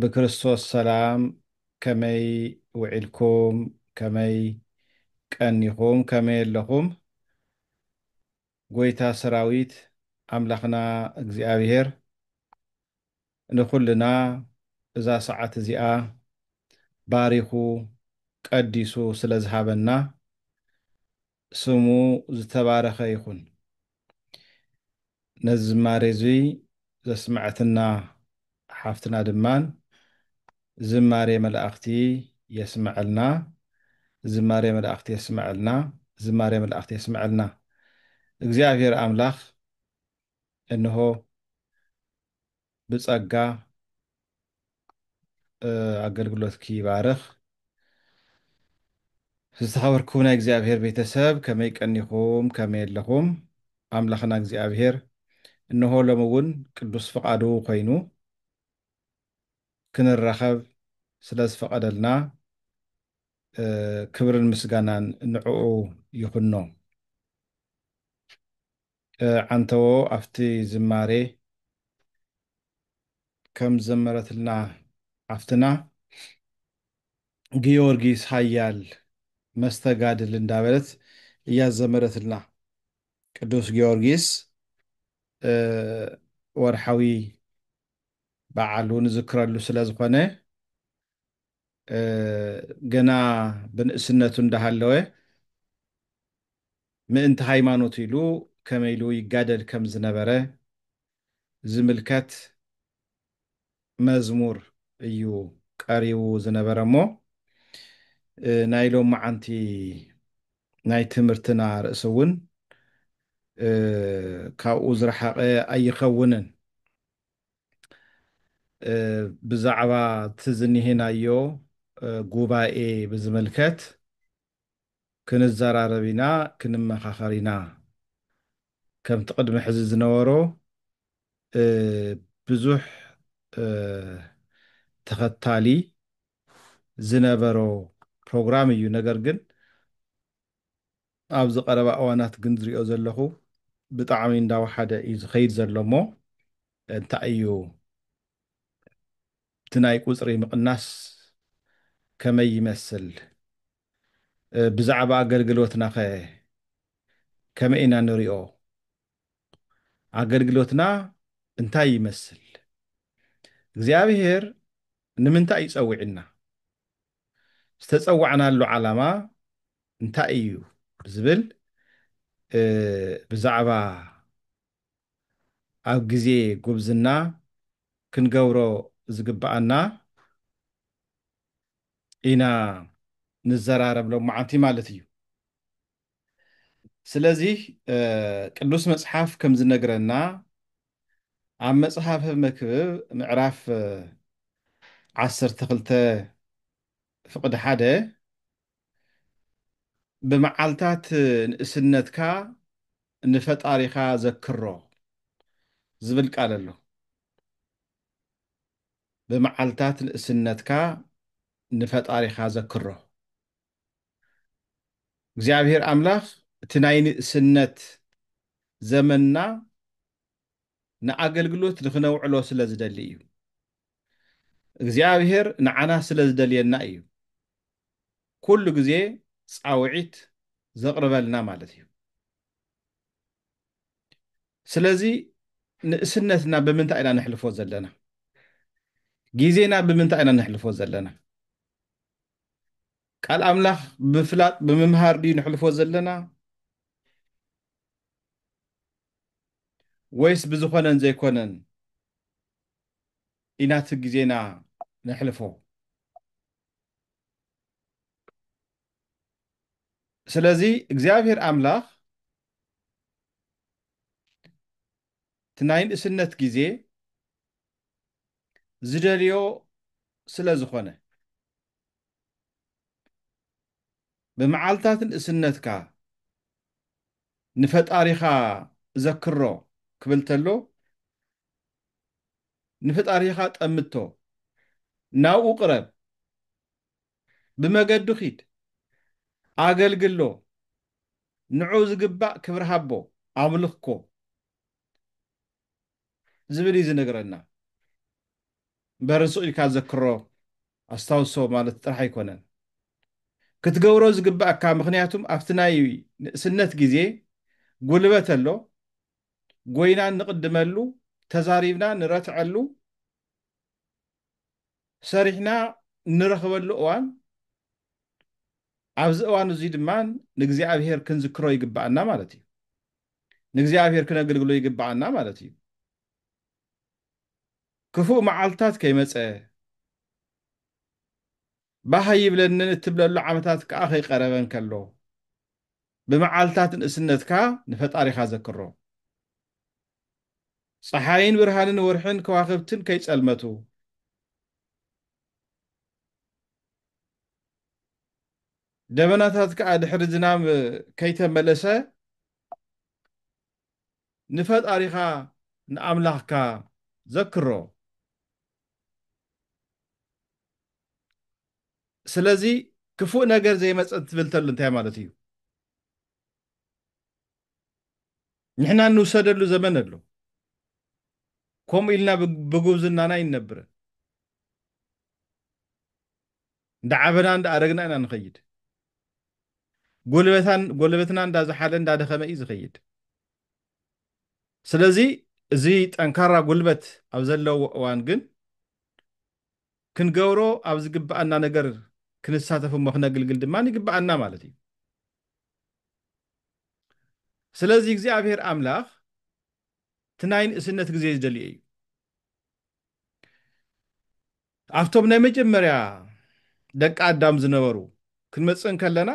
ብክርስቶስ ሰላም ከመይ ውዒልኩም ከመይ ቀኒኹም ከመይ ኣለኹም ጎይታ ሰራዊት ኣምላኽና እግዚኣብሄር ንኹልና እዛ ሰዓት እዚኣ ባሪኹ ቀዲሱ ስለ ዝሃበና ስሙ ዝተባረኸ ይኹን። ነዚ ዝማሬ እዙይ ዘስመዐትና ሓፍትና ድማ ዝማሬ መላእኽቲ የስመዐልና ዝማሬ መላእኽቲ የስመዐልና ዝማሬ መላእኽቲ የስመዐልና እግዚኣብሔር ኣምላኽ እንሆ ብጸጋ ኣገልግሎትኪ ይባርኽ። ዝተኸበርኩም ናይ እግዚኣብሔር ቤተሰብ ከመይ ቀኒኹም ከመይ ኣለኹም? ኣምላኽና እግዚኣብሔር እነሆ ሎሚ እውን ቅዱስ ፍቓዱ ኮይኑ ክንራኸብ ስለ ዝፈቐደልና ክብርን ምስጋናን ንዕኡ ይኹኖ። ዓንተዎ ኣብቲ ዝማሬ ከም ዝዘመረትልና ሓፍትና ግዮርጊስ ሃያል መስተጋድል እንዳበለት እያ ዝዘመረትልና ቅዱስ ግዮርጊስ ወርሓዊ በዓሉ ንዝክረሉ ስለ ዝኾነ ገና ብንእስነቱ እንዳሃለወ ምእንቲ ሃይማኖት ኢሉ ከመይ ኢሉ ይጋደል ከም ዝነበረ ዝምልከት መዝሙር እዩ ቀሪቡ ዝነበረ እሞ ናይ ሎማዓንቲ ናይ ትምህርትና ርእሲ እውን ካብኡ ዝረሓቐ ኣይኸውንን። ብዛዕባ እቲ ዝኒሀናዮ ጉባኤ ብዝምልከት ክንዘራረብ ኢና፣ ክንመኻኸር ኢና። ከምቲ ቅድሚ ሕዚ ዝነበሮ ብዙሕ ተኸታሊ ዝነበሮ ፕሮግራም እዩ። ነገር ግን ኣብዚ ቀረባ እዋናት ግን ዝሪኦ ዘለኹ ብጣዕሚ እንዳወሓደ እዩ ዝኸይድ ዘሎ እሞ እንታይ እዩ እቲ ናይ ቁፅሪ ምቕናስ ከመይ ይመስል? ብዛዕባ ኣገልግሎትና ከ ከመይ ኢና ንሪኦ? ኣገልግሎትና እንታይ ይመስል? እግዚኣብሄር ንምንታይ እዩ ፀዊዕና? ዝተፀዋዕናሉ ዓላማ እንታይ እዩ ዝብል ብዛዕባ ኣብ ግዜ ጉብዝና ክንገብሮ ዝግበኣና ኢና ንዘራረብ ሎማዓንቲ ማለት እዩ። ስለዚ ቅዱስ መጽሓፍ ከም ዝነግረና ኣብ መጽሓፈ መክብብ ምዕራፍ ዓሰርተ ክልተ ፍቕዲ ሓደ ብመዓልታት ንእስነትካ ንፈጣሪኻ ዘክሮ ዝብል ቃል ኣሎ ብመዓልታት ንእስነትካ ንፈጣሪኻ ዘክሮ እግዚኣብሔር ኣምላኽ እቲ ናይ ንእስነት ዘመንና ንኣገልግሎት ንኽነውዕሎ ስለ ዝደሊ እዩ። እግዚኣብሔር ንዓና ስለ ዝደልየና እዩ ኩሉ ግዜ ጻውዒት ዘቕርበልና ማለት እዩ። ስለዚ ንእስነትና ብምንታይ ኢና ነሕልፎ ዘለና? ግዜና ብምንታይ ኢና ነሕልፎ ዘለና? ቃል ኣምላኽ ብምፍላጥ ብምምሃር ድዩ ንሕልፎ ዘለና ወይስ ብዝኾነን ዘይኮነን ኢና እቲ ግዜና ነሕልፎ ስለዚ እግዚኣብሔር ኣምላኽ እቲ ናይ ንእስነት ግዜ ዝደልዮ ስለ ዝኾነ። ብመዓልታት ንእስነትካ ንፈጣሪኻ ዘክሮ ክብል ተሎ ንፈጣሪኻ ጠምቶ፣ ናብኡ ቅረብ፣ ብመገዱ ኪድ ኣገልግሎ ንዑ ዝግባእ ክብሪ ሃቦ ኣምልኮ ዝብል እዩ ዝነግረና እምበር ስቅ ኢልካ ዘክሮ ኣስታውሶ ማለት ጥራሕ ኣይኮነን ክትገብሮ ዝግባእካ ምክንያቱም ኣብቲ ናይ ንእስነት ግዜ ጉልበት ኣሎ ጎይና ንቅድመሉ ተዛሪብና ንረትዐሉ ሰሪሕና እንረኽበሉ እዋን ኣብዚ እዋን እዙይ ድማ ንእግዚኣብሔር ክንዝክሮ ይግብኣና ማለት እዩ። ንእግዚኣብሔር ክነግልግሎ ይግብኣና ማለት እዩ። ክፉእ መዓልትታት ከይመፀ ባህ ይብለንን እትብለሉ ዓመታት ከዓ ከይቀረበ እንከሎ ብመዓልትታት ንእስነትካ ንፈጣሪኻ ዘክሮ። ጸሓይን ብርሃንን ወርሕን ከዋኽብትን ከይጸልመቱ፣ ደበናታት ከኣ ድሕሪ ዝናም ከይተመለሰ፣ ንፈጣሪኻ ንኣምላኽካ ዘክሮ። ስለዚ ክፉእ ነገር ዘይመጽእ ትብል ተሎ እንታይ ማለት እዩ? ንሕና እንውሰደሉ ዘመን ኣሎ ከምኡ ኢልና ብጉብዝናና ይነብረን እንዳዓበና እንዳኣረግና ኢና ንኸይድ ጎልበታን ጎልበትና እንዳዝሓለ እንዳደኸመ እዩ ዝኸይድ ስለዚ እዚ ጠንካራ ጉልበት ኣብ ዘለዎ እዋን ግን ክንገብሮ ኣብ ዝግብኣና ነገር ክንሳተፍ እሞ ክነግልግል ድማ ይግብኣና ማለት እዩ ስለዚ እግዚኣብሔር ኣምላኽ እቲ ናይ ንእስነት ግዜ ዝደልዮ እዩ ኣብቶም ናይ መጀመርያ ደቂ ኣዳም ዝነበሩ ክንመፅእ እንከለና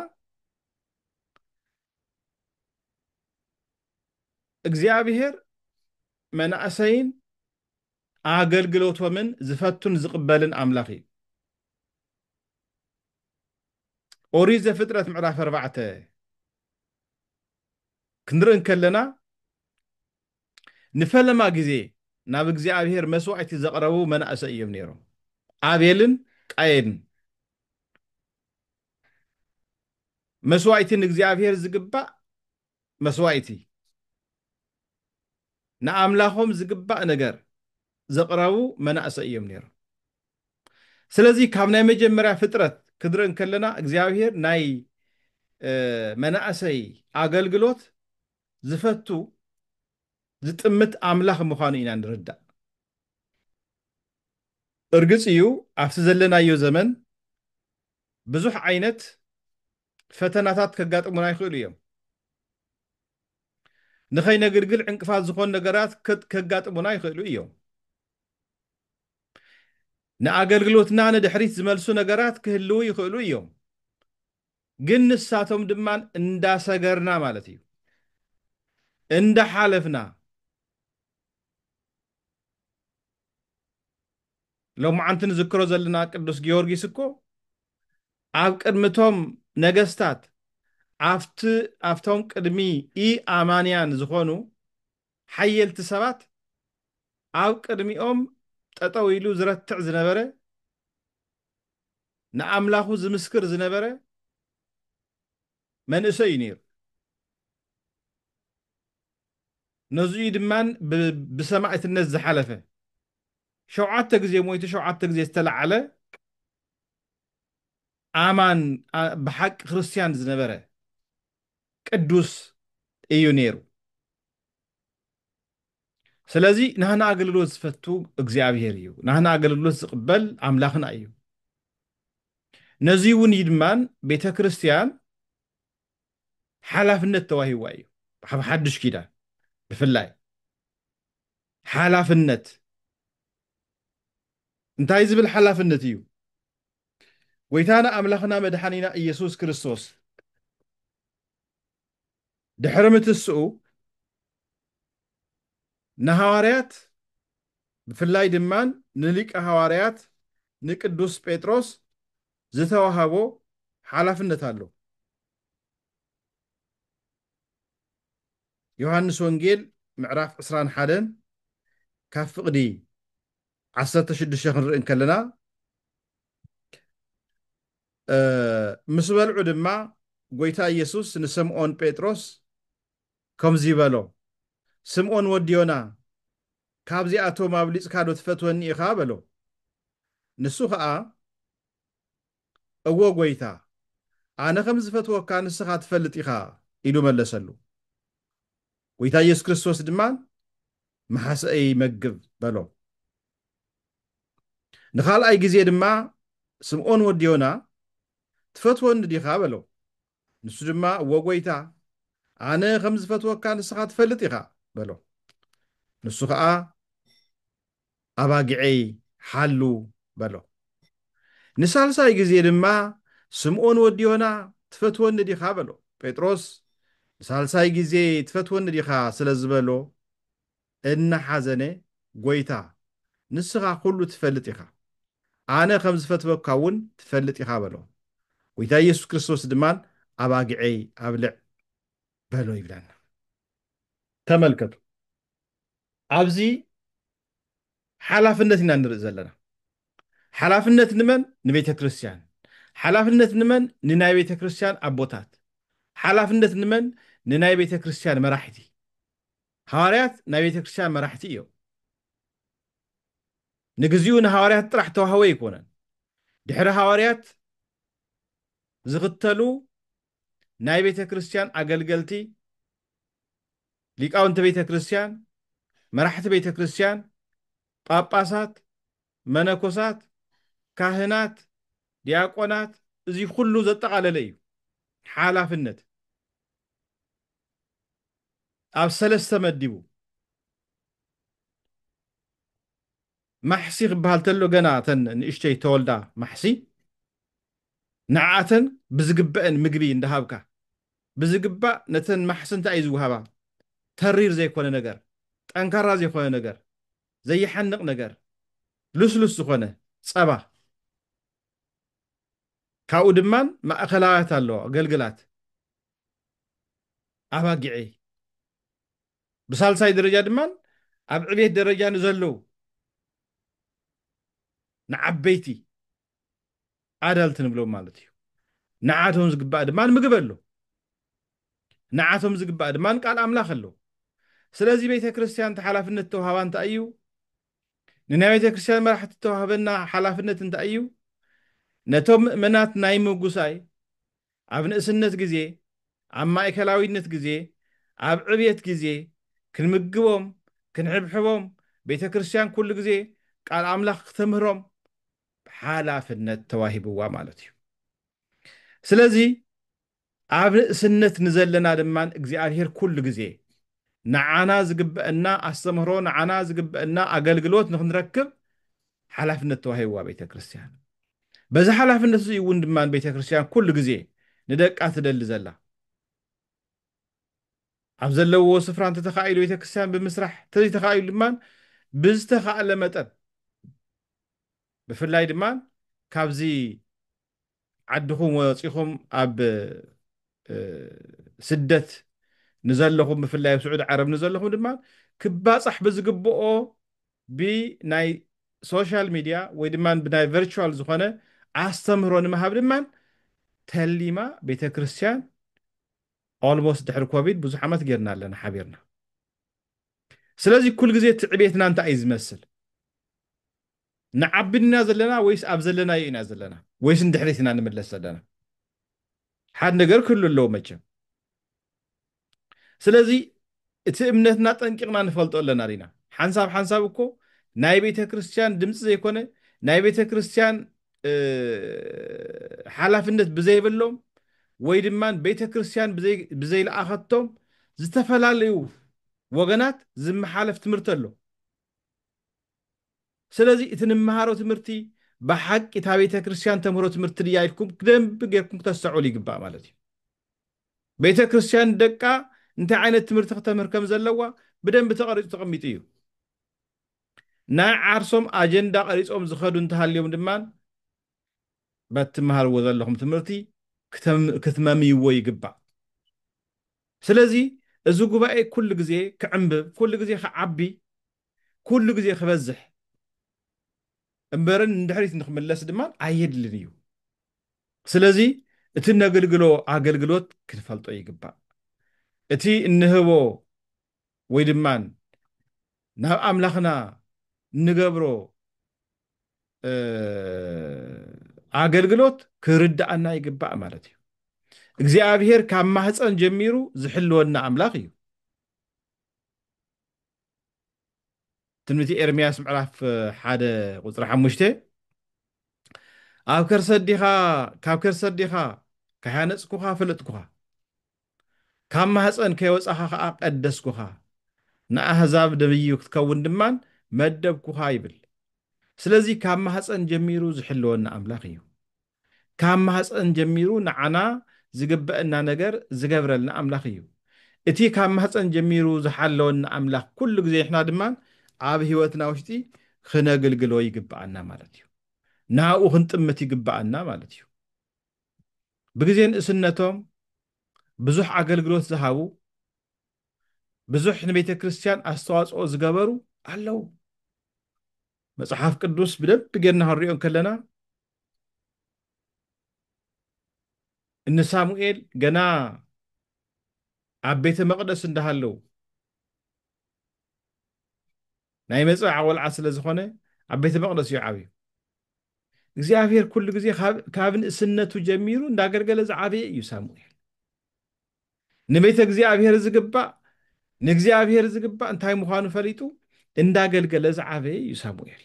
እግዚኣብሔር መናእሰይን ኣገልግሎቶምን ዝፈቱን ዝቕበልን ኣምላኽ እዩ ኦሪት ዘፍጥረት ምዕራፍ ኣርባዕተ ክንርኢ እንከለና ንፈለማ ግዜ ናብ እግዚኣብሄር መስዋዕቲ ዘቕረቡ መናእሰይ እዮም ነይሮም ኣቤልን ቃየንን መስዋዕቲ ንእግዚኣብሄር ዝግባእ መስዋኢቲ ንኣምላኾም ዝግባእ ነገር ዘቕረቡ መናእሰይ እዮም ነይሮም። ስለዚ ካብ ናይ መጀመርያ ፍጥረት ክንርኢ እንከለና እግዚኣብሄር ናይ መናእሰይ ኣገልግሎት ዝፈቱ ዝጥምት ኣምላኽ ምዃኑ ኢና ንርዳእ። እርግጽ እዩ ኣብቲ ዘለናዮ ዘመን ብዙሕ ዓይነት ፈተናታት ከጋጥሙና ይኽእሉ እዮም። ንኸይነግልግል ዕንቅፋት ዝኾኑ ነገራት ከጋጥሙና ይኽእሉ እዮም። ንኣገልግሎትና ንድሕሪት ዝመልሱ ነገራት ክህልዉ ይኽእሉ እዮም። ግን ንሳቶም ድማ እንዳሰገርና ማለት እዩ እንዳሓለፍና ሎምዓንቲ ንዝክሮ ዘለና ቅዱስ ጊዮርጊስ እኮ ኣብ ቅድሚ እቶም ነገስታት ኣብቲ ኣብቶም ቅድሚ ኢ ኣማንያን ዝኾኑ ሓየልቲ ሰባት ኣብ ቅድሚኦም ጠጠው ኢሉ ዝረትዕ ዝነበረ ንኣምላኹ ዝምስክር ዝነበረ መንእሰይ እዩ ነይሩ። ነዙይ እዩ ድማ ብሰማእትነት ዝሓለፈ። ሸውዓተ ግዜ ሞይቱ ሸውዓተ ግዜ ዝተለዓለ ኣማን ብሓቂ ክርስትያን ዝነበረ ቅዱስ እዩ ነይሩ። ስለዚ ናህና ኣገልግሎት ዝፈቱ እግዚኣብሄር እዩ ናህና ኣገልግሎት ዝቕበል ኣምላኽና እዩ ነዚ እውን እዩ ድማን ቤተ ክርስቲያን ሓላፍነት ተዋሂዋ እዩ ኣብ ሓድሽ ኪዳን ብፍላይ ሓላፍነት እንታይ ዝብል ሓላፍነት እዩ ጎይታና ኣምላኽና መድሓኒና ኢየሱስ ክርስቶስ ድሕሪ ምትስኡ ንሃዋርያት ብፍላይ ድማ ንሊቀ ሃዋርያት ንቅዱስ ጴጥሮስ ዝተዋሃቦ ሓላፍነት ኣሎ። ዮሃንስ ወንጌል ምዕራፍ ዕስራን ሓደን ካብ ፍቕዲ ዓሰርተ ሽዱሽተ ክንርኢ እንከለና ምስ በልዑ ድማ ጐይታ ኢየሱስ ንስምዖን ጴጥሮስ ከምዙይ በሎ፣ ስምዖን ወዲ ዮና፣ ካብዚኣቶም ኣብሊጽካዶ ትፈትወኒ ኢኻ? በሎ። ንሱ ኸዓ፣ እወ ጐይታ፣ ኣነ ከም ዝፈትወካ ንስኻ ትፈልጥ ኢኻ ኢሉ መለሰሉ። ጐይታ ኢየሱስ ክርስቶስ ድማ፣ ምሓሰኤይ መግብ በሎ። ንኻልኣይ ግዜ ድማ ስምኦን ወዲ ዮና፣ ትፈትወኒ ዲኻ? በሎ። ንሱ ድማ፣ እወ ጐይታ፣ ኣነ ኸም ዝፈትወካ ንስኻ ትፈልጥ ኢኻ፣ በሎ። ንሱ ኸኣ፣ ኣባጊዔይ ሓሉ፣ በሎ። ንሳልሳይ ግዜ ድማ፣ ስምኦን ወዲ ዮና፣ ትፈትወኒ ዲኻ? በሎ። ጴጥሮስ ንሳልሳይ ግዜ ትፈትወኒ ዲኻ ስለ ዝበሎ፣ እናሓዘነ፣ ጐይታ፣ ንስኻ ዅሉ ትፈልጥ ኢኻ፣ ኣነ ኸም ዝፈትወካ እውን ትፈልጥ ኢኻ በሎ። ጐይታ ኢየሱስ ክርስቶስ ድማ ኣባጊዐይ ኣብልዕ በሎ ይብለና። ተመልከቱ፣ ኣብዚ ሓላፍነት ኢና ንርኢ ዘለና። ሓላፍነት ንመን? ንቤተ ክርስትያን። ሓላፍነት ንመን? ንናይ ቤተ ክርስትያን ኣቦታት። ሓላፍነት ንመን? ንናይ ቤተ ክርስትያን መራሕቲ። ሃዋርያት ናይ ቤተ ክርስትያን መራሕቲ እዮም። ንግዚኡ ንሃዋርያት ጥራሕ ተዋህቦ ኣይኮነን። ድሕሪ ሃዋርያት ዝኽተሉ ናይ ቤተ ክርስትያን ኣገልገልቲ፣ ሊቃውንቲ ቤተ ክርስትያን፣ መራሕቲ ቤተ ክርስትያን፣ ጳጳሳት፣ መነኮሳት፣ ካህናት፣ ዲያቆናት እዚ ኩሉ ዘጠቓለለ እዩ ሓላፍነት። ኣብ ሰለስተ መዲቡ። ማሕሲ ክበሃል ተሎ ገና እተን ንእሽተይ ተወልዳ ማሕሲ ንዕኣተን ብዝግበእን ምግቢ እንዳሃብካ ብዝግባእ ነተን ማሕሲ እንታይ እዩ ዝወሃባ ተሪር ዘይኮነ ነገር ጠንካራ ዘይኮነ ነገር ዘይሓንቕ ነገር ልስሉስ ዝኾነ ጸባ ካብኡ ድማን ማእከላውያት ኣለዋ ገልግላት ኣባጊዐይ ብሳልሳይ ደረጃ ድማ ኣብ ዕቤት ደረጃ ንዘለው ንዓበይቲ ኣዳልት ንብሎም ማለት እዩ ንዓቶም ዝግባእ ድማ ምግብ ኣሎ ንዓቶም ዝግባእ ድማ ቃል ኣምላኽ ኣሎ ስለዚ ቤተ ክርስቲያን እቲ ሓላፍነት ተዋህባ እንታይ እዩ ንናይ ቤተ ክርስቲያን መራሕቲ ተዋህበና ሓላፍነት እንታይ እዩ ነቶም ምእመናት ናይ ምጉሳይ ኣብ ንእስነት ግዜ፣ ኣብ ማእከላዊነት ግዜ፣ ኣብ ዕብየት ግዜ፣ ክንምግቦም፣ ክንሕብሕቦም፣ ቤተ ክርስቲያን ኩሉ ግዜ ቃል ኣምላኽ ክተምህሮም ሓላፍነት ተዋሂብዋ ማለት እዩ። ስለዚ ኣብ ንእስነት ንዘለና ድማ እግዚኣብሔር ኩሉ ግዜ ንዓና ዝግበእና ኣስተምህሮ፣ ንዓና ዝግበእና ኣገልግሎት ንክንረክብ ሓላፍነት ተዋሂብዋ ቤተ ክርስቲያን። በዚ ሓላፍነት እዚ እውን ድማ ቤተ ክርስቲያን ኩሉ ግዜ ንደቃ ትደሊ ዘላ። ኣብ ዘለውዎ ስፍራ እንተተኻኢሉ ቤተ ክርስቲያን ብምስራሕ እንተዘይተኻኢሉ ድማ ብዝተኻእለ መጠን ብፍላይ ድማ ካብዚ ዓድኹም ወጺኹም ኣብ ስደት ንዘለኹም ብፍላይ ኣብ ስዑድ ዓረብ ንዘለኹም ድማ ክባጻሕ ብዝግብኦ ብናይ ሶሻል ሚድያ ወይ ድማ ብናይ ቨርቹዋል ዝኾነ ኣስተምህሮ ንምሃብ ድማ ተሊማ ቤተ ክርስቲያን ኦልሞስት ድሕሪ ኮቪድ ብዙሕ ዓመት ጌርና ኣለና ሓቢርና ስለዚ ኩል ግዜ ትዕቤትና እንታይ እዩ ዝመስል ንዓቢ ድና ዘለና ወይስ ኣብ ዘለናዮ ኢና ዘለና ወይስ ንድሕሪት ኢና ንምለስ ዘለና ሓድ ነገር ክህሉ ኣለዎ መቸም ስለዚ እቲ እምነትና ጠንቂቕና ንፈልጦ ኣለና ዲና ሓንሳብ ሓንሳብ እኮ ናይ ቤተ ክርስቲያን ድምፂ ዘይኮነ ናይ ቤተ ክርስቲያን ሓላፍነት ብዘይብሎም ወይ ድማ ቤተ ክርስቲያን ብዘይለኣኸቶም ዝተፈላለዩ ወገናት ዝመሓለፍ ትምህርቲ ኣሎ ስለዚ እቲ ንመሃሮ ትምህርቲ ብሓቂ እታ ቤተ ክርስቲያን ተምህሮ ትምህርቲ ድያ ኢልኩም ክደንብ ጌርኩም ክተስተዕሉ ይግባእ ማለት እዩ ቤተ ክርስቲያን ደቃ እንታይ ዓይነት ትምህርቲ ክተምህር ከም ዘለዋ ብደንብ ተቐሪጹ ተቐሚጡ እዩ ናይ ዓርሶም ኣጀንዳ ቀሪጾም ዝኸዱ እንተሃልዮም ድማ በት ትመሃርዎ ዘለኹም ትምህርቲ ክትመምይዎ ይግባእ ስለዚ እዚ ጉባኤ ኩሉ ግዜ ክዕምብብ ኩሉ ግዜ ክዓቢ ኩሉ ግዜ ክበዝሕ እምበርን ንድሕሪት ንክምለስ ድማ ኣየድልን እዩ። ስለዚ እቲ እነገልግሎ ኣገልግሎት ክንፈልጦ ይግባእ። እቲ እንህቦ ወይ ድማ ናብ ኣምላኽና እንገብሮ ኣገልግሎት ክርድኣና ይግባእ ማለት እዩ። እግዚኣብሄር ካብ ማህፀን ጀሚሩ ዝሕልወና ኣምላኽ እዩ። ትንቢት ኤርምያስ ምዕራፍ ሓደ ቁፅሪ ሓሙሽተ ኣብ ከርሰዲኻ ካብ ከርሰዲኻ ካያነፅኩኻ ፍልጥኩኻ ካብ ማህፀን ከይወፃኻ ከዓ ቀደስኩኻ ንኣህዛብ ደብዩ ክትከውን ድማን መደብኩኻ ይብል ስለዚ ካብ ማህፀን ጀሚሩ ዝሕልወና ኣምላኽ እዩ ካብ ማህጸን ጀሚሩ ንዓና ዝግበእና ነገር ዝገብረልና ኣምላኽ እዩ። እቲ ካብ ማህጸን ጀሚሩ ዝሓለወና ኣምላኽ ኩሉ ግዜ ንሕና ድማ ኣብ ሕይወትና ውሽጢ ክነግልግሎ ይግበኣና ማለት እዩ። ናብኡ ክንጥምት ይግበኣና ማለት እዩ። ብግዜ ንእስነቶም ብዙሕ ኣገልግሎት ዝሃቡ ብዙሕ ንቤተ ክርስቲያን ኣስተዋጽኦ ዝገበሩ ኣለዉ። መጽሓፍ ቅዱስ ብደንቢ ጌርና ክንሪኦ ከለና እነ ሳሙኤል ገና ኣብ ቤተ መቕደስ እንዳሃለው ናይ መጽብዓ ቆልዓ ስለ ዝኾነ ኣብ ቤተ መቕደስ እዩ ዓብዩ እግዚኣብሔር ኩሉ ግዜ ካብ ንእስነቱ ጀሚሩ እንዳገልገለ ዝዓበየ እዩ ሳሙኤል ንቤተ እግዚኣብሔር ዝግባእ ንእግዚኣብሔር ዝግባእ እንታይ ምዃኑ ፈሊጡ እንዳገልገለ ዝዓበየ እዩ ሳሙኤል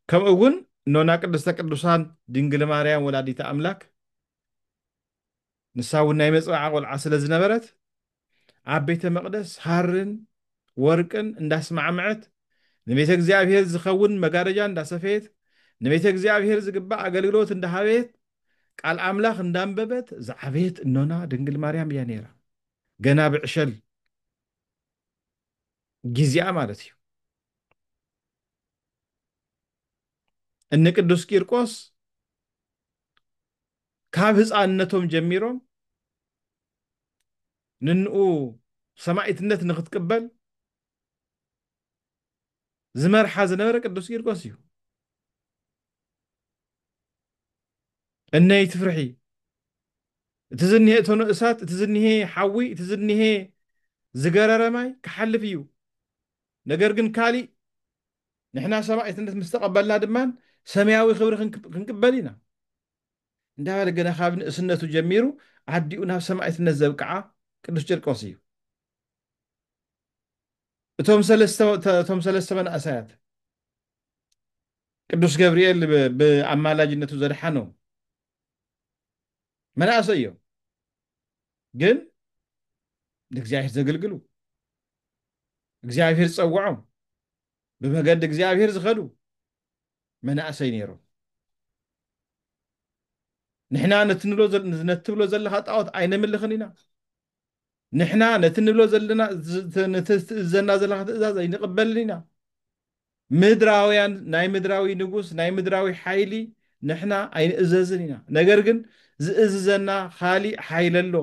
ከምኡ እውን ኖና ቅድስተ ቅዱሳን ድንግል ማርያም ወላዲተ ኣምላክ ንሳ እውን ናይ መፅብዓ ቆልዓ ስለ ዝነበረት ኣብ ቤተ መቅደስ ሃርን ወርቅን እንዳስማዕምዐት ንቤተ እግዚኣብሔር ዝኸውን መጋረጃ እንዳሰፈየት ንቤተ እግዚኣብሔር ዝግባእ ኣገልግሎት እንዳሃበየት ቃል ኣምላኽ እንዳንበበት ዝዓበየት እኖና ድንግል ማርያም እያ ነይራ ገና ብዕሸል ጊዜኣ ማለት እዩ እነ ቅዱስ ቂርቆስ ካብ ህፃንነቶም ጀሚሮም ንንኡ ሰማዒትነት ንክትቅበል ዝመርሓ ዝነበረ ቅዱስ ቂርቆስ እዩ እነይ ትፍርሒ እቲ ዝኒሀ እቶነ እሳት እቲ ዝኒሀ ሓዊ እቲ ዝኒሀ ዝገረረ ማይ ክሓልፍ እዩ ነገር ግን ካሊእ ንሕና ሰማዒትነት ምስ ተቐበልና ድማ ሰማያዊ ክብሪ ክንቅበል ኢና እንዳበለ ገና ካብ ንእስነቱ ጀሚሩ ኣዲኡ ናብ ሰማዒትነት ዘብቅዓ ቅዱስ ጭርቆስ እዩ እቶም ሰለስተ መንእሰያት ቅዱስ ገብርኤል ብኣማላጅነቱ ዘድሓኖም መናእሰይ እዮም ግን ንእግዚኣብሔር ዘገልግሉ እግዚኣብሔር ዝፀውዖም ብመገዲ እግዚኣብሔር ዝኸዱ መናእሰይ ነይሮም ንሕና ነትብሎ ዘለካ ጣዖት ኣይነምልኽን ኢና ንሕና ነቲ ንብሎ ዘለና ነቲ ትእዘና ዘለካ ትእዛዝ ኣይንቕበልን ኢና ምድራውያን ናይ ምድራዊ ንጉስ ናይ ምድራዊ ሓይሊ ንሕና ኣይንእዘዝን ኢና ነገር ግን ዝእዝዘና ካሊእ ሓይሊ ኣሎ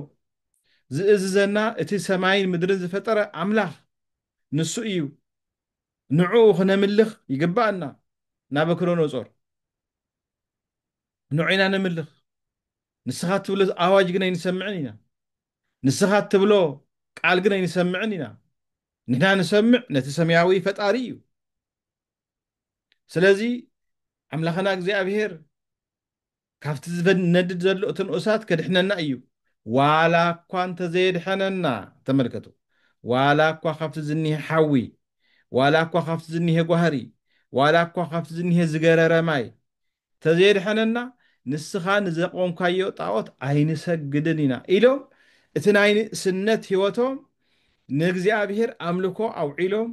ዝእዝዘና እቲ ሰማይን ምድርን ዝፈጠረ ኣምላኽ ንሱ እዩ ንዕኡ ክነምልኽ ይግባእና ናበክሮኖጾር ንዑ ኢና ነምልኽ፣ ንስኻ እትብሎ ኣዋጅ ግን ኣይንሰምዕን ኢና፣ ንስኻ እትብሎ ቃል ግን ኣይንሰምዕን ኢና፣ ንሕና ንሰምዕ ነቲ ሰማያዊ ፈጣሪ እዩ። ስለዚ ኣምላኽና እግዚኣብሄር ካብቲ ዝነድድ ዘሎ እቲ ንኡሳት ከድሕነና እዩ፣ ዋላ እኳ እንተዘየድሐነና፣ ተመልከቱ፣ ዋላ እኳ ካብቲ ዝኒሀ ሓዊ፣ ዋላ እኳ ካብቲ ዝኒሀ ጓህሪ፣ ዋላ እኳ ካብቲ ዝኒሀ ዝገረረ ማይ፣ ተዘየድሐነና ንስኻ ንዘቆምካዮ ጣኦት ኣይንሰግድን ኢና ኢሎም እቲ ናይ ንእስነት ሕይወቶም ንእግዚኣብሔር ኣምልኮ ኣውዒሎም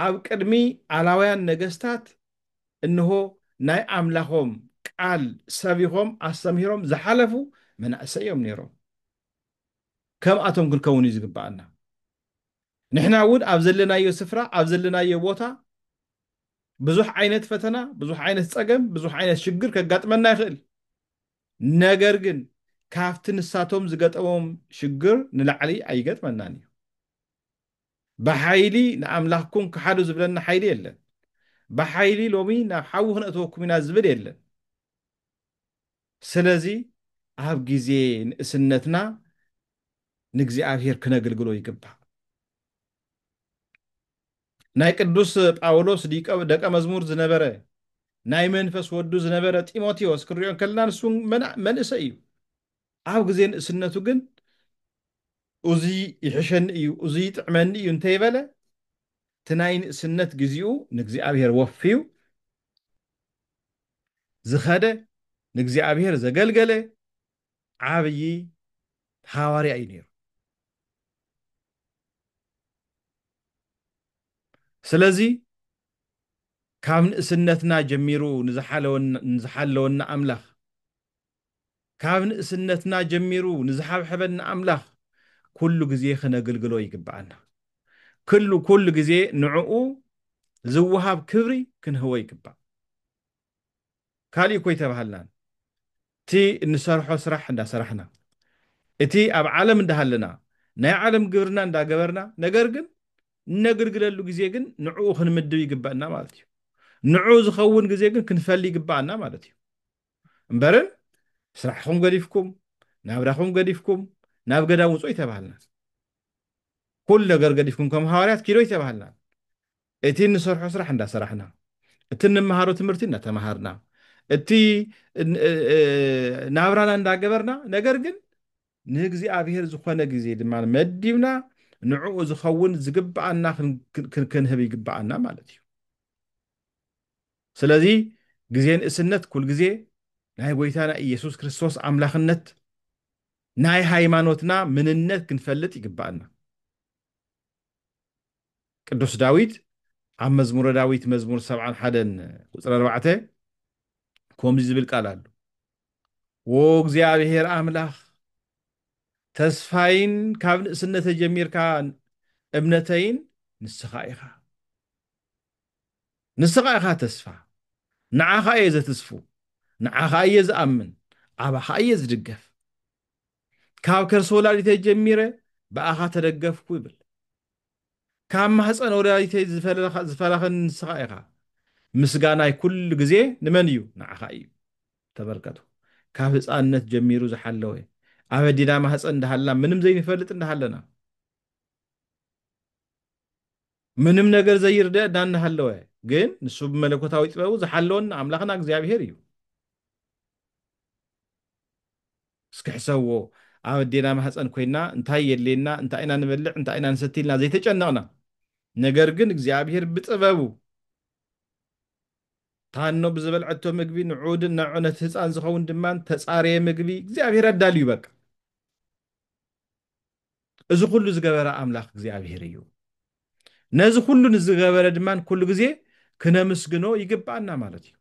ኣብ ቅድሚ ኣላውያን ነገሥታት እንሆ ናይ ኣምላኾም ቃል ሰቢኾም ኣስተምሂሮም ዝሓለፉ መናእሰይ እዮም ነይሮም። ከምኣቶም ክንከውን እዩ ዝግብኣና። ንሕና እውን ኣብ ዘለናዮ ስፍራ ኣብ ዘለናዮ ቦታ ብዙሕ ዓይነት ፈተና፣ ብዙሕ ዓይነት ጸገም፣ ብዙሕ ዓይነት ሽግር ከጋጥመና ይኽእል። ነገር ግን ካብቲ ንሳቶም ዝገጠሞም ሽግር ንላዕሊ ኣይገጥመናን እዩ። ብሓይሊ ንኣምላኽኩም ክሓዱ ዝብለና ሓይሊ የለን። ብሓይሊ ሎሚ ናብ ሓዊ ክነእትወኩም ኢና ዝብል የለን። ስለዚ ኣብ ግዜ ንእስነትና ንእግዚኣብሔር ክነግልግሎ ይግባእ። ናይ ቅዱስ ጳውሎስ ደቀ መዝሙር ዝነበረ ናይ መንፈስ ወዱ ዝነበረ ጢሞቴዎስ ክንሪኦ እንከለና ንሱ መንእሰይ እዩ ኣብ ግዜ ንእስነቱ ግን እዚ ይሕሸኒ እዩ እዚ ይጥዕመኒ እዩ እንተይበለ እቲ ናይ ንእስነት ግዜኡ ንእግዚኣብሔር ወፍዩ ዝኸደ ንእግዚኣብሔር ዘገልገለ ዓብዪ ሃዋርያ እዩ ነይሩ። ስለዚ ካብ ንእስነትና ጀሚሩ ንዝሓለወና ኣምላኽ ካብ ንእስነትና ጀሚሩ ንዝሓብሐበና ኣምላኽ ኩሉ ግዜ ክነግልግሎ ይግብኣና። ኩሉ ኩሉ ግዜ ንዕኡ ዝወሃብ ክብሪ ክንህቦ ይግባእ። ካሊእ እኮ ኣይተባሃልናን እቲ እንሰርሖ ስራሕ እንዳሰራሕና እቲ ኣብ ዓለም እንዳሃለና ናይ ዓለም ግብርና እንዳገበርና ነገር ግን እነግልግለሉ ግዜ ግን ንዕኡ ክንምድብ ይግበእና ማለት እዩ ንዑ ዝኸውን ግዜ ግን ክንፈሊ ይግበኣና ማለት እዩ እምበርን ስራሕኹም ገዲፍኩም ናብራኹም ገዲፍኩም ናብ ገዳም ውጹ ኣይተባሃልናን ኩሉ ነገር ገዲፍኩም ከም ሃዋርያት ኪዶ ኣይተባሃልናን እቲ እንሰርሖ ስራሕ እንዳሰራሕና፣ እቲ እንመሃሮ ትምህርቲ እንዳተማሃርና፣ እቲ ናብራና እንዳገበርና፣ ነገር ግን ንእግዚኣብሄር ዝኾነ ግዜ ድማ መዲብና ንዕኡ ዝኸውን ዝግብኣና ክንህብ ይግብኣና ማለት እዩ። ስለዚ ግዜ ንእስነት ኩል ግዜ ናይ ጎይታና ኢየሱስ ክርስቶስ ኣምላኽነት ናይ ሃይማኖትና ምንነት ክንፈልጥ ይግብኣና። ቅዱስ ዳዊት ኣብ መዝሙረ ዳዊት መዝሙር ሰብዓን ሓደን ቁፅሪ ኣርባዕተ ከምዚ ዝብል ቃል ኣሉ ዎ እግዚኣብሔር ኣምላኽ ተስፋይን ካብ ንእስነተ ጀሚርካ እምነተይን ንስኻ ኢኻ ንስኻ ኢኻ ተስፋ ንዓኻ እየ ዘትስፉ ንዓኻ እየ ዝኣምን ኣባኻ እየ ዝድገፍ ካብ ከርሲ ወላዲተይ ጀሚረ ብኣኻ ተደገፍኩ ይብል። ካብ ማህፀን ወላዲተይ ዝፈለኸኒ ንስኻ ኢኻ። ምስጋናይ ኩሉ ግዜ ንመን እዩ? ንዓኻ እዩ። ተመልከቱ፣ ካብ ህፃንነት ጀሚሩ ዝሓለወ፣ ኣብ ኣዴና ማህፀን እንዳሃልና ምንም ዘይንፈልጥ እንዳሃለና፣ ምንም ነገር ዘይርደእና እንዳሃለወ ግን ንሱ ብመለኮታዊ ጥበቡ ዝሓለወና ኣምላኽና እግዚኣብሄር እዩ። እስኪ ሕሰብዎ ኣብ ኣዴና ማህፀን ኮይና እንታይ የድልየና እንታይ ኢና ንበልዕ እንታይ ኢና ንሰቲ ኢልና ዘይተጨነቕና ነገር ግን እግዚኣብሄር ብጥበቡ ታኖ ብዝበልዐቶ ምግቢ ንዑድን ንዑ ነቲ ህፃን ዝኸውን ድማ ተፃረየ ምግቢ እግዚኣብሄር ኣዳልዩ በቃ እዚ ኩሉ ዝገበረ ኣምላኽ እግዚኣብሄር እዩ ነዚ ኩሉ ንዝገበረ ድማ ኩሉ ግዜ ክነምስግኖ ይግባኣና ማለት እዩ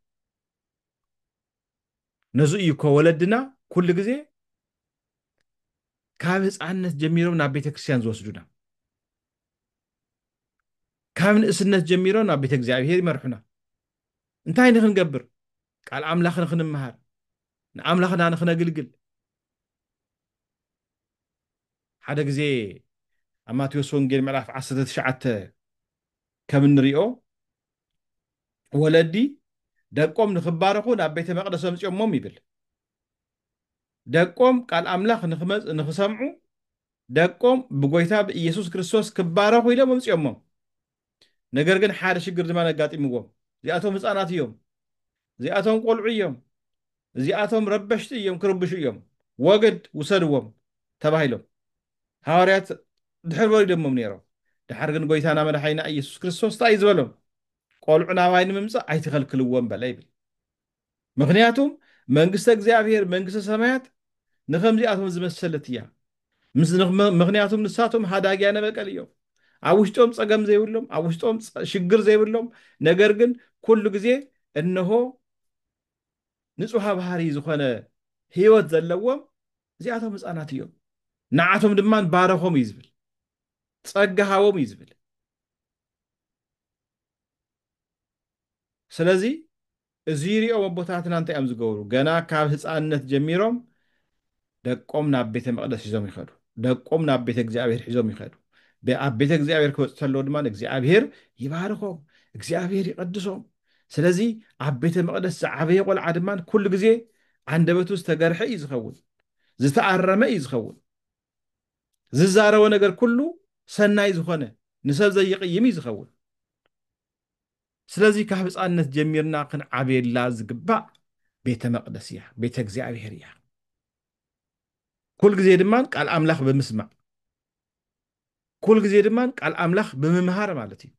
ነዚ እዩ እኮ ወለድና ኩሉ ግዜ ካብ ህፃንነት ጀሚሮም ናብ ቤተ ክርስቲያን ዝወስዱና ካብ ንእስነት ጀሚሮም ናብ ቤተ እግዚኣብሄር ይመርሑና እንታይ ንክንገብር ቃል ኣምላኽ ንክንምሃር ንኣምላኽና ንክነግልግል ሓደ ግዜ ኣብ ማቴዎስ ወንጌል ምዕራፍ 19 ከም እንሪኦ ወለዲ ደቆም ንኽባረኹ ናብ ቤተ መቕደስ ኣምፅኦሞም ይብል። ደቆም ቃል ኣምላኽ ንኽሰምዑ ደቆም ብጎይታ ብኢየሱስ ክርስቶስ ክባረኹ ኢሎም ኣምፅኦሞም። ነገር ግን ሓደ ሽግር ድማ ኣጋጢምዎም። እዚኣቶም ህፃናት እዮም። እዚኣቶም ቆልዑ እዮም እዚኣቶም ረበሽቲ እዮም ክርብሹ እዮም ወግድ ውሰድዎም ተባሂሎም ሃዋርያት ድሕር ወሪዶሞም ነይሮም ድሓር ግን ጎይታና መድሓኒና ኢየሱስ ክርስቶስ ታይ እዩ ዝበሎም ቆልዑ ናባይ ንምምጻእ ኣይትኸልክልዎም በለ ይብል ምኽንያቱም መንግስተ እግዚኣብሔር መንግስተ ሰማያት ንኸምዚኣቶም ዝመሰለት እያ ምኽንያቱም ንሳቶም ሃዳጊያነ በቀል እዮም ኣብ ውሽጦም ፀገም ዘይብሎም ኣብ ውሽጦም ሽግር ዘይብሎም ነገር ግን ኩሉ ግዜ እነሆ ንፁሃ ባህሪ ዝኾነ ህይወት ዘለዎም እዚኣቶም ህፃናት እዮም ንዓቶም ድማ ባረኾም እዩ ዝብል ፀጋ ሃቦም እዩ ዝብል ስለዚ እዙይ ሪኦም ኣቦታትና እንታይ እዮም ዝገብሩ? ገና ካብ ህፃንነት ጀሚሮም ደቆም ናብ ቤተ መቕደስ ሒዞም ይኸዱ። ደቆም ናብ ቤተ እግዚኣብሔር ሒዞም ይኸዱ። ኣብ ቤተ እግዚኣብሔር ክበፅሑ ተለዉ ድማ እግዚኣብሔር ይባርኾም፣ እግዚኣብሔር ይቐድሶም። ስለዚ ኣብ ቤተ መቕደስ ዝዓበየ ቆልዓ ድማ ኩሉ ግዜ ዓንደበቱ ዝተገርሐ እዩ ዝኸውን፣ ዝተኣረመ እዩ ዝኸውን። ዝዛረቦ ነገር ኩሉ ሰናይ ዝኾነ ንሰብ ዘይቕይም እዩ ዝኸውን። ስለዚ ካብ ህፃንነት ጀሚርና ክንዓብየላ ዝግባእ ቤተ መቅደስ እያ፣ ቤተ እግዚኣብሔር እያ። ኩል ግዜ ድማ ቃል ኣምላኽ ብምስማዕ ኩል ግዜ ድማ ቃል ኣምላኽ ብምምሃር ማለት እዩ።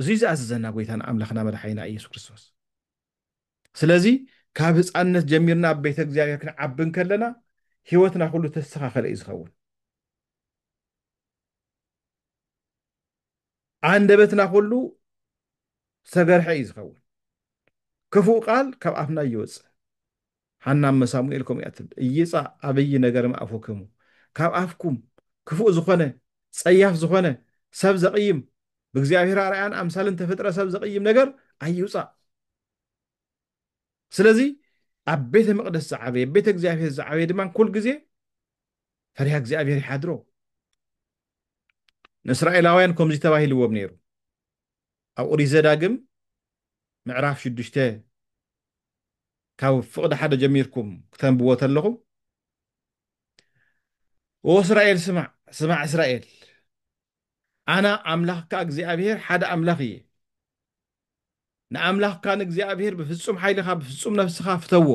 እዙይ ዝኣዘዘና ጎይታና ኣምላኽና መድሓኒና ኢየሱስ ክርስቶስ። ስለዚ ካብ ህፃንነት ጀሚርና ኣብ ቤተ እግዚኣብሔር ክንዓቢ ከለና ህይወትና ኩሉ ተስተኻኸለ እዩ ዝኸውን። ኣንደበትና ኩሉ ዝተገርሐ እዩ ዝኸውን ክፉእ ቃል ካብ ኣፍና ይወጽእ ሃና እመ ሳሙኤል ከምኡ እያ ትብል እይጻ ኣብይ ነገር ምኣፉክሙ ካብ ኣፍኩም ክፉእ ዝኾነ ጸያፍ ዝኾነ ሰብ ዘቕይም ብእግዚኣብሔር ኣርኣያን ኣምሳልን ተፈጥረ ሰብ ዘቕይም ነገር ኣይውጻእ ስለዚ ኣብ ቤተ መቅደስ ዝዓበየ ቤተ እግዚኣብሔር ዝዓበየ ድማ ኩል ግዜ ፈሪሃ እግዚኣብሔር ይሓድሮ ንእስራኤላውያን ከምዚ ተባሂልዎም ነይሩ፣ ኣብ ኦሪት ዘዳግም ምዕራፍ ሽዱሽተ ካብ ፍቕዲ ሓደ ጀሚርኩም ክተንብዎ ተለኹም፣ ኦ እስራኤል ስማዕ፣ ስማዕ እስራኤል፣ ኣና ኣምላኽካ እግዚኣብሄር ሓደ ኣምላኽ እየ፣ ንኣምላኽካ ንእግዚኣብሄር ብፍጹም ሓይልኻ ብፍጹም ነፍስኻ ፍተዎ፣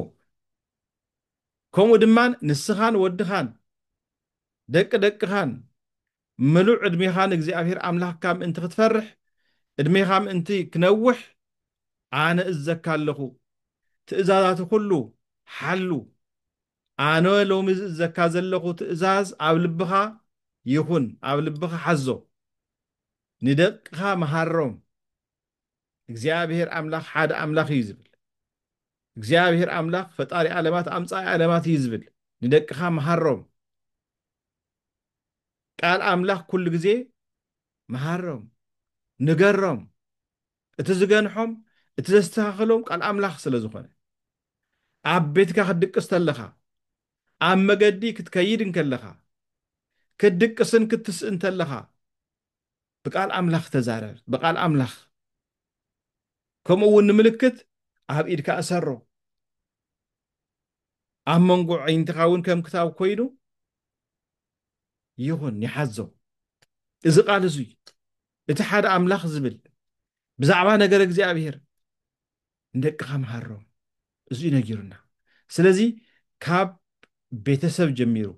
ከምኡ ድማ ንስኻን ወድኻን ደቂ ደቅኻን ምሉእ ዕድሜኻ ንእግዚኣብሄር ኣምላኽካ ምእንቲ ኽትፈርሕ፣ ዕድሜኻ ምእንቲ ኽነውሕ፣ ኣነ እእዝዘካ ኣለኹ። ትእዛዛቲ ዅሉ ሓሉ። ኣነ ሎሚ ዝእዝዘካ ዘለኹ ትእዛዝ ኣብ ልብኻ ይኹን፣ ኣብ ልብኻ ሓዞ። ንደቅኻ መሃሮም፣ እግዚኣብሔር ኣምላክ ሓደ ኣምላክ እዩ ዝብል እግዚኣብሔር ኣምላክ ፈጣሪ ኣለማት ኣምፃኢ ኣለማት እዩ ዝብል ንደቅካ መሃሮም ቃል ኣምላክ ኩሉ ግዜ መሃሮም ንገሮም እቲ ዝገንሖም እቲ ዘስተካክሎም ቃል ኣምላክ ስለ ዝኮነ ኣብ ቤትካ ክትድቅስ ተለኻ ኣብ መገዲ ክትከይድ እንከለኻ ክትድቅስን ክትስእን ተለኻ ብቃል ኣምላኽ ተዛረብ ብቃል ኣምላኽ ከምኡ እውን ንምልክት ኣብ ኢድካ እሰሮ ኣብ መንጎ ዓይንትኻ እውን ከም ክታብ ኮይኑ ይኹን ይሓዞ እዚ ቃል እዙይ እቲ ሓደ ኣምላኽ ዝብል ብዛዕባ ነገር እግዚኣብሄር ንደቅኻ መሃሮም እዙይ ነጊሩና ስለዚ ካብ ቤተሰብ ጀሚሩ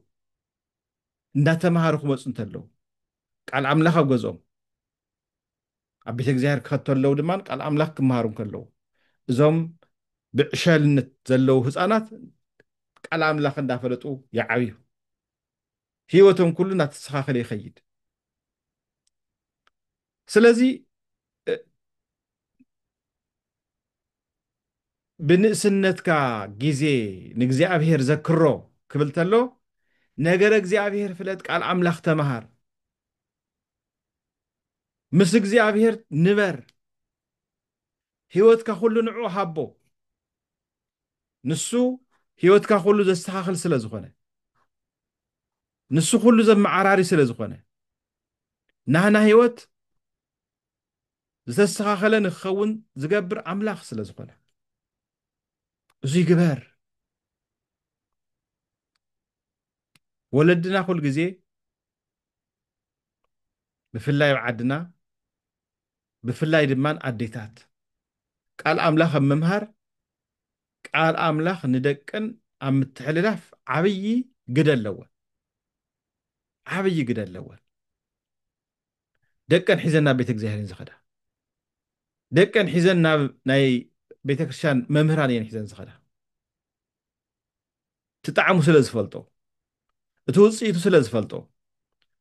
እንዳተምሃሩ ክመፁ እንተለዉ ቃል ኣምላኽ ኣብ ገዝኦም ኣብ ቤተ እግዚኣብሔር ክኸተለው ድማ ቃል ኣምላኽ ክመሃሩ እንከለዉ እዞም ብዕሸልነት ዘለዉ ህፃናት ቃል ኣምላኽ እንዳፈለጡ ይዓብዩ ህይወቶም ኩሉ እናተስተኻኸለ ይኸይድ ስለዚ ብንእስነትካ ግዜ ንእግዚኣብሄር ዘክሮ ክብል ተሎ ነገረ እግዚኣብሄር ፍለጥ ቃል ኣምላኽ ተምሃር ምስ እግዚኣብሄር ንበር ህይወትካ ኩሉ ንዑ ሃቦ ንሱ ህይወትካ ኩሉ ዘስተኻኽል ስለ ዝኾነ ንሱ ኩሉ ዘመዓራሪ ስለ ዝኾነ ናህና ህይወት ዝተስተኻኸለ ንክኸውን ዝገብር ኣምላኽ ስለ ዝኾነ እዙይ ግበር ወለድና ኩል ግዜ ብፍላይ ኣብ ዓድና ብፍላይ ድማ ኣዴታት ቃል ኣምላኽ ኣብ ምምሃር ቃል ኣምላኽ ንደቅን ኣብ ምትሕልላፍ ዓብዪ ግደ ኣለወን ዓብዪ ግደ ኣለወን ደቀን ሒዘን ናብ ቤተ እግዚኣብሔር እየን ዝኸዳ ደቀን ሒዘን ናብ ናይ ቤተ ክርስቲያን መምህራን እየን ሒዘን ዝኸዳ እቲ ጣዕሙ ስለ ዝፈልጦ እቲ ውፅኢቱ ስለ ዝፈልጦ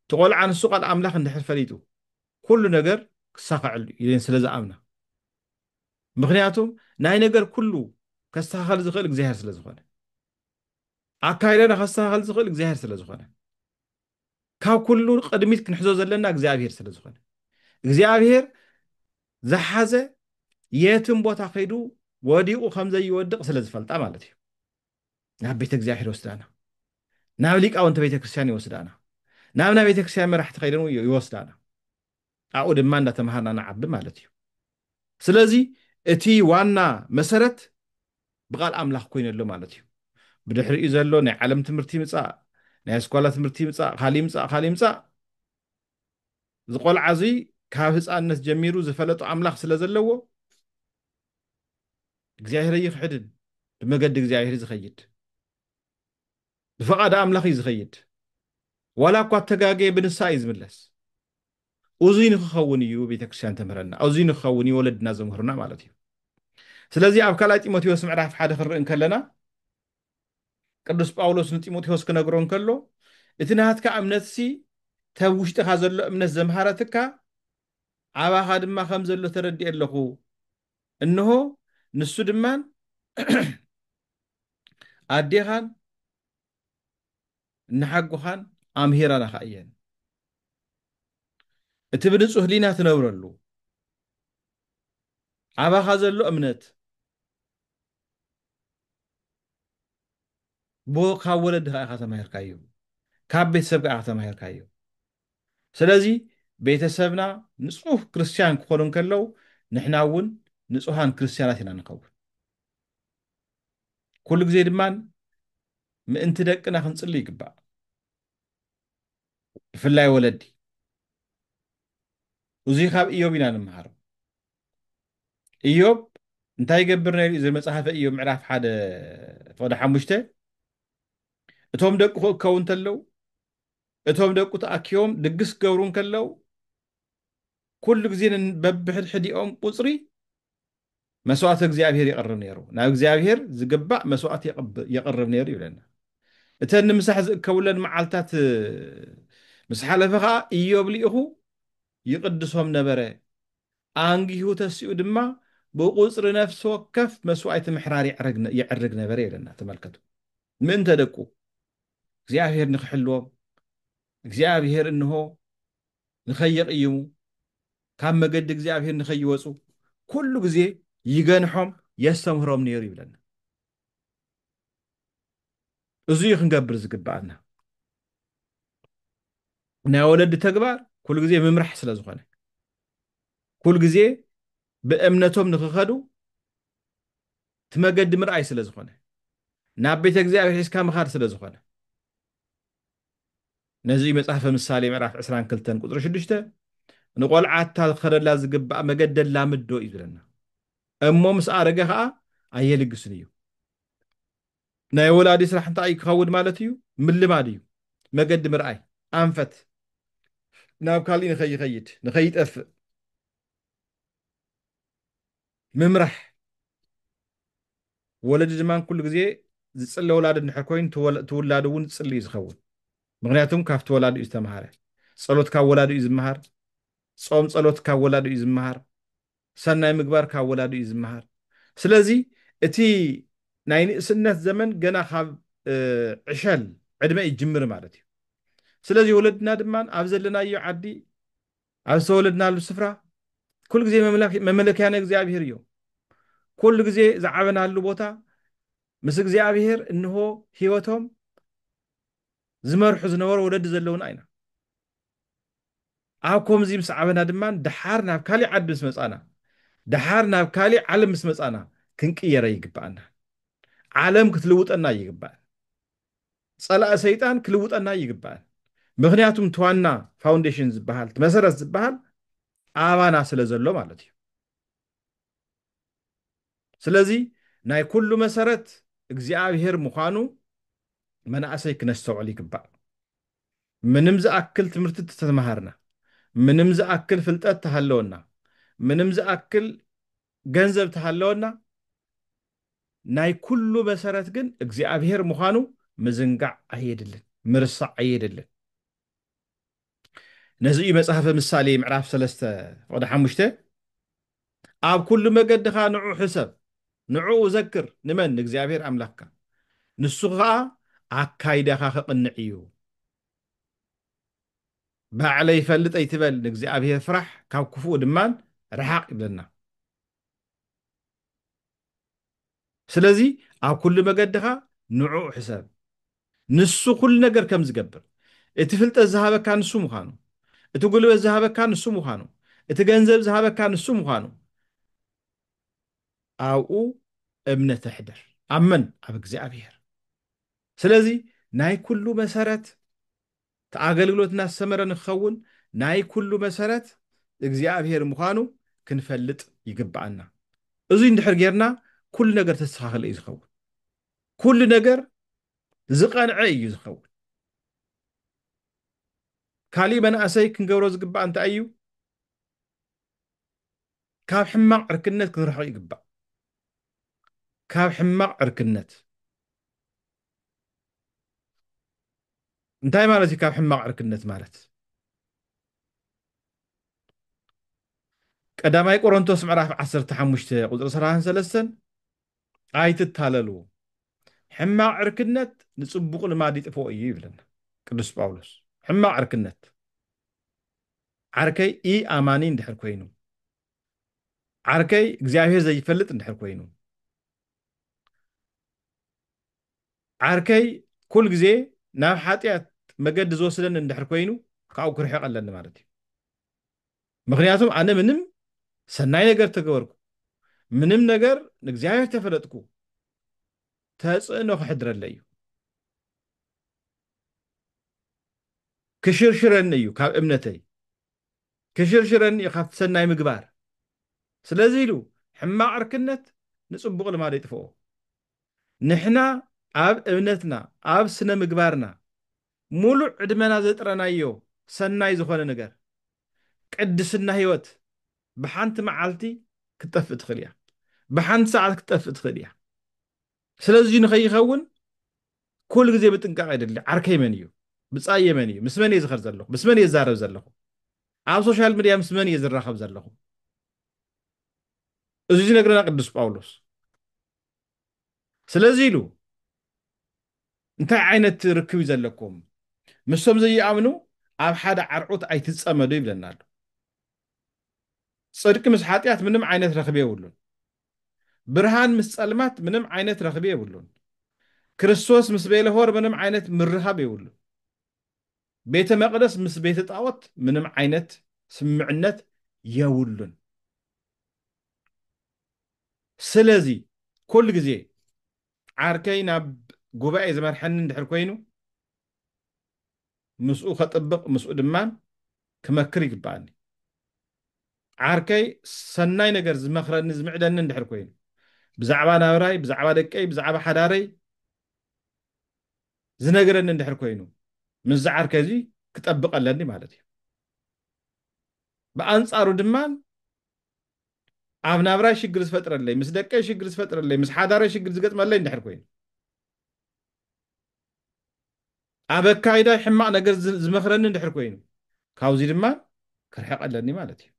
እቲ ቆልዓ ንሱ ቃል ኣምላኽ እንድሕር ፈሊጡ ኩሉ ነገር ክሳኸዐሉ ኢለን ስለ ዝኣምና ምክንያቱ ናይ ነገር ኩሉ ከስተኻኸል ዝኽእል እግዚኣብሔር ስለ ዝኾነ ኣካይዳና ከስተኻኸል ዝኽእል እግዚኣብሔር ስለ ዝኾነ ካብ ኩሉ ቅድሚት ክንሕዞ ዘለና እግዚኣብሄር ስለ ዝኾነ እግዚኣብሄር ዝሓዘ የትም ቦታ ከይዱ ወዲቑ ከም ዘይወድቕ ስለ ዝፈልጣ ማለት እዩ ናብ ቤተ እግዚኣብሄር ይወስዳና ናብ ሊቃውንቲ ቤተ ክርስቲያን ይወስዳና ናብ ናይ ቤተ ክርስቲያን መራሕቲ ከይደን ይወስዳና ኣብኡ ድማ እንዳተምሃርና ንዓቢ ማለት እዩ ስለዚ እቲ ዋና መሰረት ብቃል ኣምላኽ ኮይኑ ኣሎ ማለት እዩ ብድሕሪኡ ዘሎ ናይ ዓለም ትምህርቲ ይምጻእ ናይ ኣስኳላ ትምህርቲ ይምጻእ ካል ይምጻእ ካል ይምጻእ ዝቆልዓ እዙይ ካብ ህፃንነት ጀሚሩ ዝፈለጡ ኣምላኽ ስለ ዘለዎ እግዚኣብሔር ይኽሕድን ብመገዲ እግዚኣብሔር ዝኸይድ ብፍቓድ ኣምላኽ እዩ ዝኸይድ ዋላ እኳ ተጋገየ ብንስሃ እዩ ዝምለስ እዙይ ንክኸውን እዩ ቤተክርስትያን ተምህረና እዙይ ንክኸውን እዩ ወለድና ዘምህሩና ማለት እዩ ስለዚ ኣብ ካልኣይ ጢሞቴዎስ ምዕራፍ ሓደ ክንርኢ እንከለና ቅዱስ ጳውሎስ ንጢሞቴዎስ ክነግሮ እንከሎ እቲ ናትካ እምነትሲ ተብ ውሽጥኻ ዘሎ እምነት ዘምሃረትካ ኣባኻ ድማ ከም ዘሎ ተረድኤ ኣለኹ እንሆ ንሱ ድማ ኣዴኻን ንሓጎኻን ኣምሂረናኻ እየን እቲ ብንጹህ ህሊና ትነብረሉ ኣባኻ ዘሎ እምነት ካብ ወለድኻ ኢኻ ተማሂርካዮ ካብ ቤተሰብካ ኢኻ ተማሂርካዮ ስለዚ ቤተሰብና ንጹህ ክርስትያን ክኾኑ እንከለው ንሕና እውን ንጹሃን ክርስትያናት ኢና ንኸውን። ኩሉ ግዜ ድማ ምእንቲ ደቅና ክንጽሊ ይግባእ። ብፍላይ ወለዲ እዙይ ካብ እዮብ ኢና ንምሃሮ። እዮብ እንታይ ይገብር ነይሩ? እዚ መጽሓፈ እዮብ ምዕራፍ ሓደ ፍቕዲ ሓሙሽተ እቶም ደቁ ክእከቡ እንተለው እቶም ደቁ ተኣኪቦም ድግስ ክገብሩ እንከለው፣ ኩሉ ግዜ ንበብሕድሕዲኦም ቁጽሪ መስዋእቲ እግዚኣብሔር የቕርብ ነይሩ፣ ናብ እግዚኣብሔር ዝግባእ መስዋእቲ የቕርብ ነይሩ ይብለና። እተን ንምሳሕ ዝእከቡለን መዓልትታት ምስ ሓለፈ ከኣ ኢዮብ ልኢኹ ይቕድሶም ነበረ፣ ኣንጊሁ ተሲኡ ድማ ብቁጽሪ ነፍሲ ወከፍ መስዋእቲ ምሕራር የዕርግ ነበረ ይብለና። ተመልከቱ፣ ምእንተ ደቁ እግዚኣብሄር ንኽሕልዎም እግዚኣብሄር እንሆ ንኸይቕይሙ ካብ መገዲ እግዚኣብሄር ንኸይወፁ ኩሉ ግዜ ይገንሖም የስተምህሮም ነይሩ ይብለና እዚ እዩ ክንገብር ዝግብኣና ናይ ወለዲ ተግባር ኩሉ ግዜ ምምራሕ ስለ ዝኾነ ኩሉ ግዜ ብእምነቶም ንክኸዱ እቲ መገዲ ምርኣይ ስለ ዝኾነ ናብ ቤተ እግዚኣብሔር ሒዝካ ምኻድ ስለ ዝኾነ ነዚ እዩ መጽሓፈ ምሳሌ ምዕራፍ ዕስራን ክልተን ቁጽሪ ሽዱሽተ ንቆልዓ እታ ዝኸደላ ዝግባእ መገዲ ኣላምዶ እዩ ዝብለና እሞ ምስ ኣረገ ኸኣ ኣየልግስን እዩ ናይ ወላዲ ስራሕ እንታይ እዩ ክኸውን ማለት እዩ ምልማድ እዩ መገዲ ምርኣይ ኣንፈት ናብ ካሊእ ንኸይኸይድ ንኸይጠፍእ ምምራሕ ወለዲ ድማ ኩሉ ግዜ ዝጽለ ወላዲ እንድሕር ኮይኑ እቲ ውላዱ እውን ዝጽሊ እዩ ዝኸውን ምክንያቱም ካብቲ ወላዲ እዩ ዝተምሃረ ጸሎት ካብ ወላዲ እዩ ዝምሃር ጾም ጸሎት ካብ ወላዲ እዩ ዝምሃር ሰናይ ምግባር ካብ ወላዲ እዩ ዝምሃር ስለዚ እቲ ናይ ንእስነት ዘመን ገና ካብ ዕሸል ዕድመ ይጅምር ማለት እዩ ስለዚ ወለድና ድማ ኣብ ዘለናዮ ዓዲ ኣብ ዝተወለድናሉ ስፍራ ኩሉ ግዜ መመለኪያ ንእግዚኣብሔር እዩ። ኩሉ ግዜ ዝዓበናሉ ቦታ ምስ እግዚኣብሔር እንሆ ህይወቶም ዝመርሑ ዝነበሩ ወለዲ ዘለውና ኢና። ኣብ ከምዚ ምስ ዓበና ድማ ደሓር ናብ ካሊእ ዓዲ ምስ መፃና ደሓር ናብ ካሊእ ዓለም ምስ መፃና ክንቅየረ ይግባኣና። ዓለም ክትልውጠና ይግባእ። ጸላኢ ሰይጣን ክልውጠና ኣይግባእን ምክንያቱም እቲ ዋና ፋውንዴሽን ዝበሃል እቲ መሰረት ዝበሃል ኣባና ስለ ዘሎ ማለት እዩ ስለዚ ናይ ኩሉ መሰረት እግዚኣብሔር ምዃኑ መናእሰይ ክነስተውዕል ይግባእ ምንም ዝኣክል ትምህርቲ ተተምሃርና ምንም ዝኣክል ፍልጠት ተሃለወና ምንም ዝኣክል ገንዘብ ተሃለወና ናይ ኩሉ መሰረት ግን እግዚኣብሔር ምዃኑ ምዝንጋዕ ኣየድልን፣ ምርሳዕ ኣየድልን። ነዚ እዩ መጽሓፈ ምሳሌ ምዕራፍ ሰለስተ ፍቕዲ ሓሙሽተ ኣብ ኩሉ መገድኻ ንዑ ሕሰብ ንዕኡ ዘክር ንመን ንእግዚኣብሔር ኣምላኽካ ንሱ ኸኣ ኣካይዳኻ ከቕንዕ እዩ። ባዕለይ ይፈልጥ ኣይትበል ንእግዚኣብሄር ፍራሕ ካብ ክፉኡ ድማ ርሓቕ ይብለና። ስለዚ ኣብ ኩሉ መገድኻ ንዕኡ ሕሰብ ንሱ ኩሉ ነገር ከም ዝገብር እቲ ፍልጠት ዝሃበካ ንሱ ምዃኑ እቲ ጉልበት ዝሃበካ ንሱ ምዃኑ እቲ ገንዘብ ዝሃበካ ንሱ ምዃኑ ኣብኡ እምነት ኣሕድር ኣብ መን ኣብ እግዚኣብሄር ስለዚ ናይ ኩሉ መሰረት እቲ ኣገልግሎትና ዝሰመረ ንክኸውን ናይ ኩሉ መሰረት እግዚኣብሔር ምዃኑ ክንፈልጥ ይግበኣና። እዙይ እንድሕር ገይርና ኩሉ ነገር ዝተስተኻኸለ እዩ ዝኸውን። ኩሉ ነገር ዝቐንዐ እዩ ዝኸውን። ካሊእ መናእሰይ ክንገብሮ ዝግባእ እንታይ እዩ? ካብ ሕማቕ ዕርክነት ክንርሕቕ ይግባእ። ካብ ሕማቕ ዕርክነት። እንታይ ማለት እዩ ካብ ሕማቕ ዕርክነት ማለት? ቀዳማይ ቆሮንቶስ ምዕራፍ 15 ቁፅሪ 33 ኣይትታለሉ ሕማቕ ዕርክነት ንፅቡቕ ልማድ ይጥፍኦ እዩ ይብለና ቅዱስ ጳውሎስ ሕማቕ ዕርክነት ዓርከይ ኢ ኣማኒ እንድሕር ኮይኑ ዓርከይ እግዚኣብሔር ዘይፈልጥ እንድሕር ኮይኑ ዓርከይ ኩል ግዜ ናብ ሓጢኣት መገዲ ዝወስደኒ እንድሕር ኮይኑ ካብኡ ክርሕቕ ኣለኒ ማለት እዩ ምክንያቱም ኣነ ምንም ሰናይ ነገር ተገበርኩ ምንም ነገር ንእግዚኣብሔር ተፈለጥኩ ተፅዕኖ ክሕድረለ እዩ ክሽርሽረኒ እዩ ካብ እምነተይ ኪሽርሽረኒ እዩ ኻብቲ ሰናይ ምግባር። ስለዚ ኢሉ፣ ሕማቕ ዕርክነት ንጽቡቕ ልማድ የጥፍኦ። ንሕና ኣብ እምነትና፣ ኣብ ስነ ምግባርና፣ ምሉእ ዕድመና ዘጥረናዮ ሰናይ ዝዀነ ነገር፣ ቅድስና ህይወት፣ ብሓንቲ መዓልቲ ክትጠፍእ ትኽእል እያ። ብሓንቲ ሰዓት ክትጠፍእ ትኽእል እያ። ስለዚ ንኸይኸውን ኩሉ ግዜ ምጥንቃቕ የድሊ። ዓርከይ መን እዩ? ብጻየይ መን እዩ? ምስ መን እየ ዝኸድ ዘለኹ? ምስ መን እየ ዝዛረብ ዘለኹ? ኣብ ሶሻል ሚድያ ምስ መን እየ ዝራኸብ ዘለኹ? እዚ ዝነግረና ቅዱስ ጳውሎስ ስለዚ ኢሉ እንታይ ዓይነት ርክብ እዩ ዘለኩም ምስቶም ዘይኣምኑ ኣብ ሓደ ዓርዑት ኣይትጸመዱ ይብለና ኣሎ ጽድቂ ምስ ሓጢኣት ምንም ዓይነት ረኽቢ የብሉን ብርሃን ምስ ጸልማት ምንም ዓይነት ረኽቢ የብሉን። ክርስቶስ ምስ ቤልሆር ምንም ዓይነት ምርኻብ የብሉን። ቤተ መቅደስ ምስ ቤተ ጣኦት ምንም ዓይነት ስምምዕነት የብሉን። ስለዚ ኩሉ ግዜ ዓርከይ ናብ ጉባኤ ዝመርሐኒ እንድሕር ኮይኑ ምስኡ ከጥብቅ ምስኡ ድማ ክመክር ይግበኣኒ ዓርከይ ሰናይ ነገር ዝመክረኒ ዝምዕደኒ እንድሕር ኮይኑ ብዛዕባ ናብራይ ብዛዕባ ደቀይ ብዛዕባ ሓዳረይ ዝነገረኒ እንድሕር ኮይኑ ምስዚ ዓርከይ እዚ ክጠብቅ ኣለኒ ማለት እዩ ብኣንጻሩ ድማ ኣብ ናብራይ ሽግር ዝፈጥረለይ ምስ ደቀይ ሽግር ዝፈጥረለይ ምስ ሓዳረይ ሽግር ዝገጥመለይ እንድሕር ኮይኑ ኣብ ኣካይዳይ ሕማቕ ነገር ዝመኽረኒ እንድሕር ኮይኑ፣ ካብዚ ድማ ክርሕቕ ኣለኒ ማለት እዩ።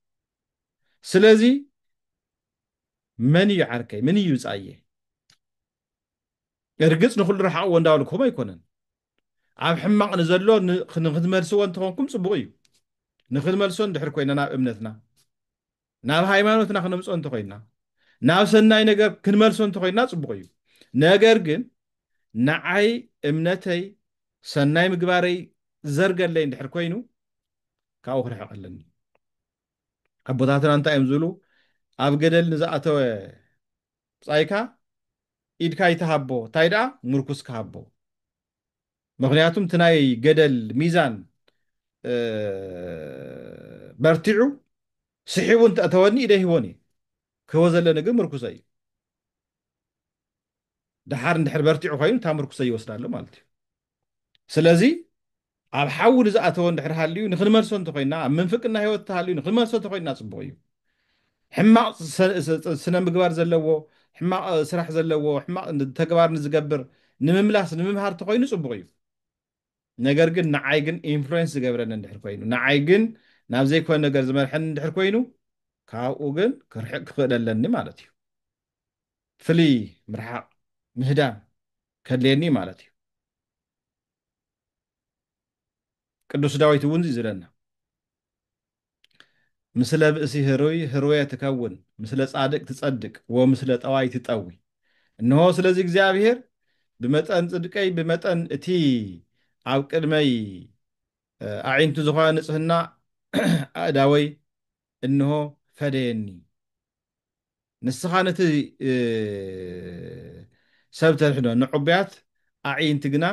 ስለዚ መን እዩ ዓርከይ? ምን እዩ ብጻየይ? እርግጽ ንኹሉ ረሓቕዎ እንዳበልኩም ኣይኮነን። ኣብ ሕማቕ ንዘሎ ንክትመልስዎ እንተኾንኩም ጽቡቕ እዩ። ንክንመልሶ እንድሕር ኮይና ናብ እምነትና ናብ ሃይማኖትና ክነምፅኦ እንተኾይንና ናብ ሰናይ ነገር ክንመልሶ እንተኾይንና ፅቡቕ እዩ ነገር ግን ንዓይ እምነተይ ሰናይ ምግባረይ ዘርገለይ እንድሕር ኮይኑ ካብኡ ክርሕቕ ኣለኒ ኣቦታትና እንታይ እዮም ዝብሉ ኣብ ገደል ንዝኣተወ ብፃይካ ኢድካ ይትሃቦ እንታይ ደኣ ምርኩስ ክሃቦ ምኽንያቱም እቲ ናይ ገደል ሚዛን በርቲዑ ስሒቡ እንተእተወኒ ኢደይ ሂቦን እየ ክህቦ ዘለኒ ግን ምርኩሰ እዩ ድሓር እንድሕር በርቲዑ ኮይኑ እታ ምርኩሰ ይወስዳ ኣሎ ማለት እዩ ስለዚ ኣብ ሓዊ ንዝኣተወ እንድሕር ሃልዩ ንክንመልሶ እንተኮይና ኣብ ምንፍቅና ሂወት ተሃልዩ ንክንመልሶ እንተኮይና ፅቡቅ እዩ ሕማቕ ስነምግባር ዘለዎ፣ ሕማቕ ስራሕ ዘለዎ፣ ሕማቕ ተግባር ንዝገብር ንምምላስ ንምምሃር ተኾይኑ ጽቡቕ እዩ። ነገር ግን ንዓይ ግን ኢንፍሉዌንስ ዝገብረኒ እንድሕር ኮይኑ፣ ንዓይ ግን ናብ ዘይኮነ ነገር ዝመርሐኒ እንድሕር ኮይኑ፣ ካብኡ ግን ክርሕቅ ክኽእል ኣለኒ ማለት እዩ። ፍልይ ምርሓቕ፣ ምህዳም፣ ከድልየኒ እዩ ማለት እዩ። ቅዱስ ዳዊት እውን እዩ ዝብለና። ምስለ ብእሲ ህሩይ ህሩየ ትከውን፣ ምስለ ጻድቅ ትጸድቅ፣ ወምስለ ጠዋይ ትጠዊ። እነሆ ስለዚ እግዚኣብሔር ብመጠን ጽድቀይ ብመጠን እቲ ኣብ ቅድመይ ኣዒንቱ ዝኾነ ንጽህና ኣእዳወይ እነሆ ፈደየኒ። ንስኻ ነቲ ሰብ ተድሕኖ፣ ንዕቡያት ኣዕይንቲ ግና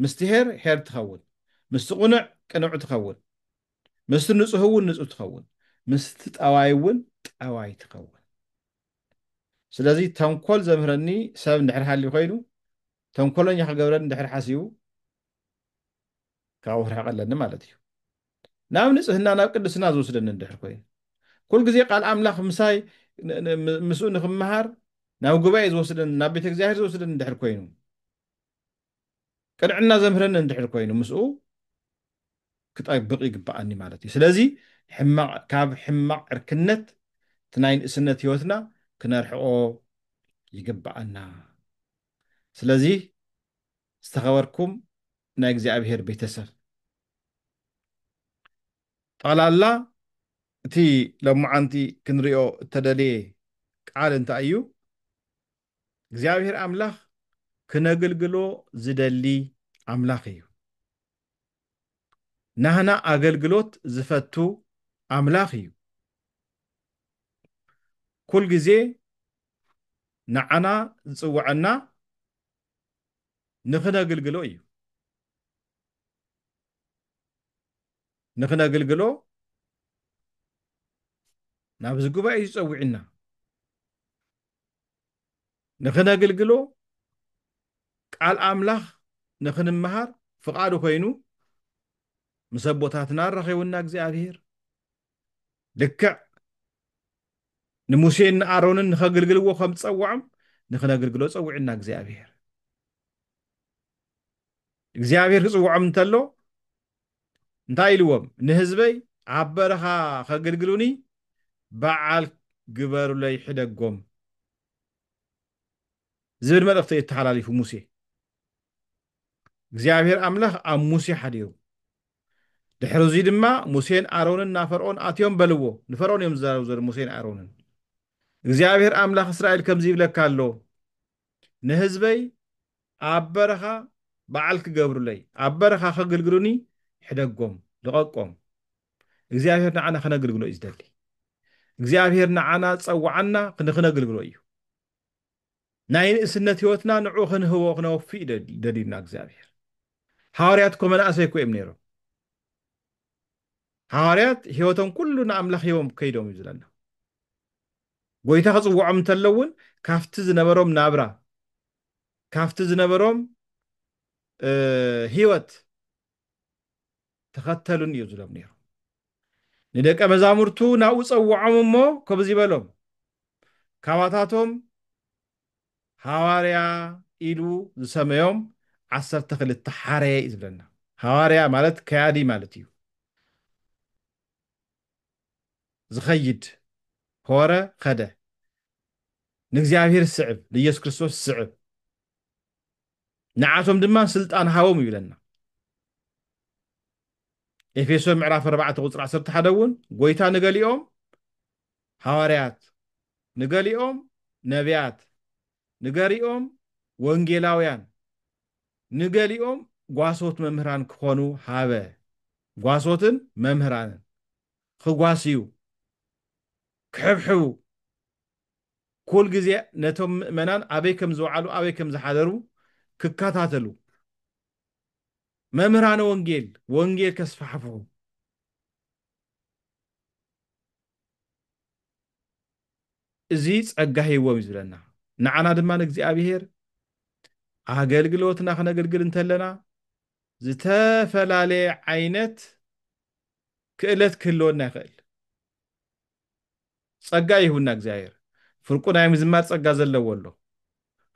ምስቲ ኄር ኄር ትኸውን፣ ምስቲ ቕኑዕ ቅኑዕ ትኸውን፣ ምስቲ ንጹህውን ንጹህ ትኸውን፣ ምስቲ ጠዋይውን ጠዋይ ትኸውን። ስለዚ ተንኮል ዘምህረኒ ሰብ እንድሕር ሃልዩ ኮይኑ ተንኮለኛ ክገብረኒ እንድሕር ሓሲቡ ካብኡ ክርሕቕ ኣለኒ ማለት እዩ። ናብ ንጽህና ናብ ቅድስና ዝወስደኒ እንድሕር ኮይኑ ኩል ግዜ ቃል ኣምላኽ ምሳይ ምስኡ ንክመሃር ናብ ጉባኤ ዝወስደኒ ናብ ቤተ እግዚኣብሔር ዝወስደኒ እንድሕር ኮይኑ ቅንዕና ዘምህረኒ እንድሕር ኮይኑ ምስኡ ክጠብቕ ይግበኣኒ ማለት እዩ። ስለዚ ሕማቕ ካብ ሕማቕ ዕርክነት እቲ ናይ ንእስነት ህይወትና ክነርሕቆ ይግበኣና። ስለዚ ዝተኸበርኩም ናይ እግዚኣብሄር ቤተሰብ ጠቕላላ እቲ ሎማዓንቲ ክንሪኦ እተደልየ ቃል እንታይ እዩ? እግዚኣብሔር ኣምላኽ ክነግልግሎ ዝደሊ ኣምላኽ እዩ ናህና ኣገልግሎት ዝፈቱ ኣምላኽ እዩ ኩል ግዜ ንዓና ዝጽውዐና ንኽነግልግሎ እዩ ንኽነግልግሎ ናብዚ ጉባኤ እዩ ዝጸውዕና ንኽነግልግሎ ቃል ኣምላኽ ንኽንመሃር ፍቓዱ ኮይኑ ምስ ኣቦታትና ኣራኺቡና እግዚኣብሄር ልክዕ ንሙሴን ንኣሮንን ንኸግልግልዎ ከም ዝጸውዖም ንኽነግልግሎ ጸዊዑና እግዚኣብሄር እግዚኣብሄር ክጽውዖም እንተሎ እንታይ ኢልዎም ንህዝበይ ኣብ በረኻ ከግልግሉኒ በዓል ግበሩለይ ሕደጎም ዝብል መልእኽቲ እዩ ተሓላሊፉ ሙሴ እግዚኣብሔር ኣምላኽ ኣብ ሙሴ ሓዲሩ ድሕሪ እዙይ ድማ ሙሴን ኣሮንን ናብ ፈርዖን ኣትዮም በልዎ ንፈርዖን እዮም ዝዛረቡ ዘሎ ሙሴን ኣሮንን እግዚኣብሔር ኣምላኽ እስራኤል ከምዚ ይብለካ ኣሎ ንህዝበይ ኣብ በረኻ በዓል ክገብሩለይ ኣብ በረኻ ከግልግሉኒ ሕደጎም ልቐቆም እግዚኣብሄር ንዓና ክነግልግሎ እዩ ዝደሊ እግዚኣብሄር ንዓና ዝጸዋዓና ንክነግልግሎ እዩ ናይ ንእስነት ህይወትና ንዑ ክንህቦ ክነወፍእ እዩ ደልዩና እግዚኣብሄር ሃዋርያት እኮ መናእሰይ እኮ እዮም ነይሮም ሃዋርያት ህይወቶም ኩሉ ንኣምላኽ ሂቦም ከይዶም እዩ ዝለና ጎይታ ክጽውዖም እንተሎ እውን ካብቲ ዝነበሮም ናብራ ካብቲ ዝነበሮም ህይወት ተኸተሉን እዩ ዝሎም ነይሩ ንደቀ መዛሙርቱ ናብኡ ጸውዖም እሞ ከምዚ በሎም ካባታቶም ሃዋርያ ኢሉ ዝሰመዮም ዓሰርተ ክልተ ሓረየ እዩ ዝብለና ሃዋርያ ማለት ከያዲ ማለት እዩ ዝኸይድ ሆረ ኸደ ንእግዚኣብሔር ስዕብ ንኢየሱስ ክርስቶስ ስዕብ ንዓቶም ድማ ስልጣን ሃቦም እዩ ኢለና ኤፌሶን ምዕራፍ 4 ቁፅሪ 11 እውን ጎይታ ንገሊኦም ሃዋርያት ንገሊኦም ነቢያት ንገሪኦም ወንጌላውያን ንገሊኦም ጓሶት መምህራን ክኾኑ ሃበ። ጓሶትን መምህራንን ኽጓስዩ፣ ክሕብሕቡ፣ ኩል ግዜ ነቶም ምእመናን ኣበይ ከም ዝውዓሉ ኣበይ ከም ዝሓደሩ ክከታተሉ፣ መምህራነ ወንጌል ወንጌል ከስፋሕፍሑ፣ እዚ ጸጋ ሂብዎም እዩ ዝብለና። ንዓና ድማ ንእግዚኣብሔር ኣገልግሎትና ክነግልግል እንተለና ዝተፈላለየ ዓይነት ክእለት ክህልወና ይኽእል። ጸጋ ይህቡና እግዚኣብሔር። ፍርቁ ናይ ምዝማር ጸጋ ዘለዎ ኣሎ።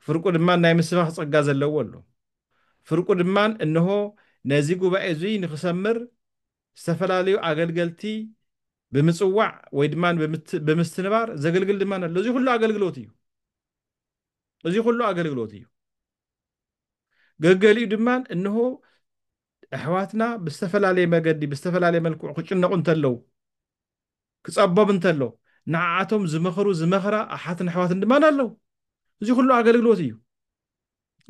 ፍርቁ ድማ ናይ ምስባኽ ጸጋ ዘለዎ ኣሎ። ፍርቁ ድማ እነሆ ነዚ ጉባኤ እዙይ ንክሰምር ዝተፈላለዩ ኣገልገልቲ ብምጽዋዕ ወይ ድማ ብምስትንባር ዘገልግል ድማ ኣሎ። እዚ ኩሉ ኣገልግሎት እዩ። እዚ ኩሉ ኣገልግሎት እዩ። ገገሊኡ ድማ እንሆ ኣሕዋትና ብዝተፈላለየ መገዲ ብዝተፈላለየ መልክዑ ክጭነቑ እንተለዉ ክጸቦብ እንተሎ ንዓኣቶም ዝመኽሩ ዝመኽራ ኣሓትን ኣሕዋትን ድማ ኣለዉ እዚ ኩሉ ኣገልግሎት እዩ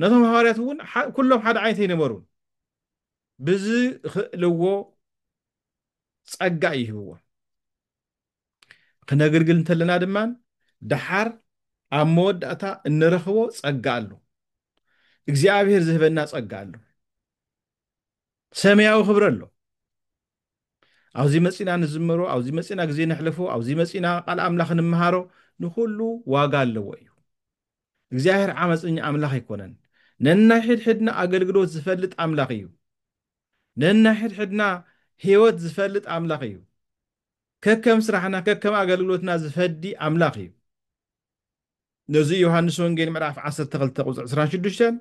ነቶም ሃዋርያት እውን ኩሎም ሓደ ዓይነት ኣይነበሩን ብዝኽእልዎ ጸጋ እዩ ሂብዎም ክነግልግል እንተለና ድማ ደሓር ኣብ መወዳእታ እንረኽቦ ጸጋ ኣሎ እግዚኣብሔር ዝህበና ጸጋ ኣሎ ሰማያዊ ክብረ ኣሎ ኣብዚ መፂና ንዝመሮ ኣብዚ መፂና ግዜ ነሕልፎ ኣብዚ መፂና ቃል ኣምላኽ ንምሃሮ ንኩሉ ዋጋ ኣለዎ እዩ እግዚኣብሔር ዓመፀኛ ኣምላኽ ኣይኮነን ነናይ ሕድሕድና ኣገልግሎት ዝፈልጥ ኣምላኽ እዩ ነንሕድሕድና ሕይወት ዝፈልጥ ኣምላኽ እዩ። ከከም ስራሕና ከከም ኣገልግሎትና ዝፈዲ ኣምላኽ እዩ። ነዚ እዩ ዮሃንስ ወንጌል ምዕራፍ ዓሰርተ ክልተ ቁጽሪ ዕስራን ሽዱሽተን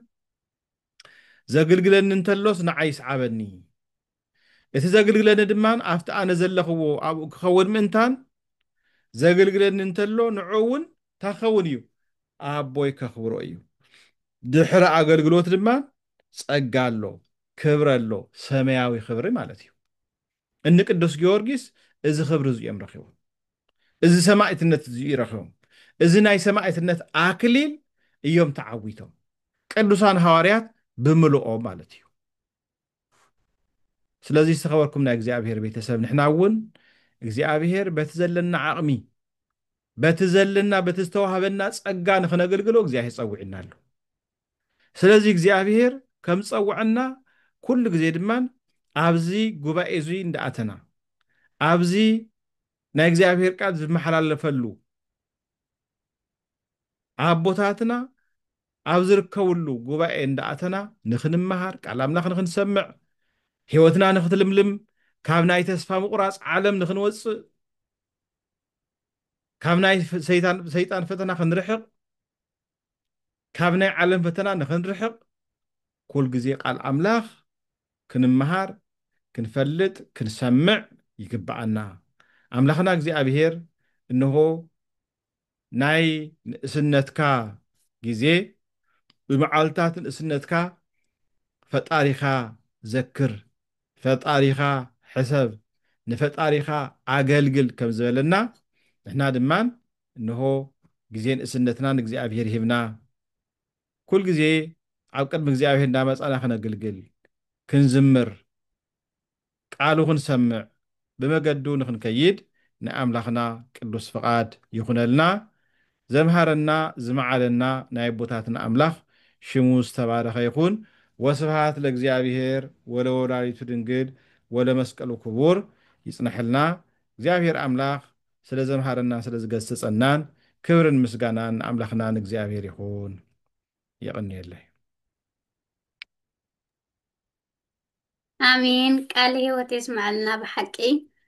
ዘግልግለኒ እንተሎስ ንዓይ ይስዓበኒ፣ እቲ ዘግልግለኒ ድማ ኣብቲ ኣነ ዘለኽዎ ኣብኡ ክኸውን ምእንታን ዘግልግለኒ እንተሎ ንዑ እውን እንታይ ክኸውን እዩ ኣቦይ ከኽብሮ እዩ። ድሕሪ ኣገልግሎት ድማ ጸጋ ኣሎ ክብሪ ኣሎ ሰመያዊ ክብሪ ማለት እዩ እኒ ቅዱስ ጊዮርጊስ እዚ ክብሪ እዚ እዮም ረኺቦም እዚ ሰማዕትነት እዚ እዩ ረኺቦም እዚ ናይ ሰማዕትነት ኣክሊል እዮም ተዓዊቶም ቅዱሳን ሃዋርያት ብምልኦም ማለት እዩ ስለዚ ዝተኸበርኩም ናይ እግዚኣብሔር ቤተሰብ ንሕና እውን እግዚኣብሔር በቲ ዘለና ዓቕሚ በቲ ዘለና በቲ ዝተዋህበና ጸጋ ንክነገልግሎ እግዚኣብሔር ጸዊዕና ኣሎ ስለዚ እግዚኣብሄር ከም ዝጸውዐና ኩሉ ግዜ ድማ ኣብዚ ጉባኤ እዙይ እንዳኣተና ኣብዚ ናይ እግዚኣብሄር ቃል ዝመሓላለፈሉ ኣቦታትና ኣብ ዝርከብሉ ጉባኤ እንዳኣተና ንክንመሃር ቃል ኣምላኽ ንክንሰምዕ ህይወትና ንክትልምልም ካብ ናይ ተስፋ ምቑራጽ ዓለም ንክንወጽእ ካብ ናይ ሰይጣን ፈተና ክንርሕቕ ካብ ናይ ዓለም ፈተና ንኽንርሕቕ ኩል ግዜ ቃል ኣምላኽ ክንመሃር ክንፈልጥ ክንሰምዕ ይግብኣና። ኣምላኽና እግዚኣብሄር እንሆ ናይ ንእስነትካ ግዜ ብመዓልትታት ንእስነትካ ፈጣሪኻ ዘክር ፈጣሪኻ ሕሰብ ንፈጣሪኻ ኣገልግል ከም ዝበለና ንሕና ድማ እንሆ ግዜ ንእስነትና ንእግዚኣብሄር ሂብና ኩል ግዜ ኣብ ቅድሚ እግዚኣብሄር እንዳመጻና ክነግልግል ክንዝምር ቃሉ ክንሰምዕ ብመገዱ ንክንከይድ ናይ ኣምላኽና ቅዱስ ፍቃድ ይኹነልና ዘምሃረና ዝመዓደና ናይ ኣቦታትና ኣምላኽ ሽሙ ዝተባረኸ ይኹን ወስብሃት ለእግዚኣብሄር ወለወላዲቱ ድንግል ወለመስቀሉ ክቡር ይጽነሐልና እግዚኣብሄር ኣምላኽ ስለ ዘምሃረናን ስለ ዝገስጸናን ክብርን ምስጋናን ንኣምላኽና ንእግዚኣብሔር ይኹን። የቐንየለይ። ኣሜን ቃለ ህይወት የስመዐልና ብሓቂ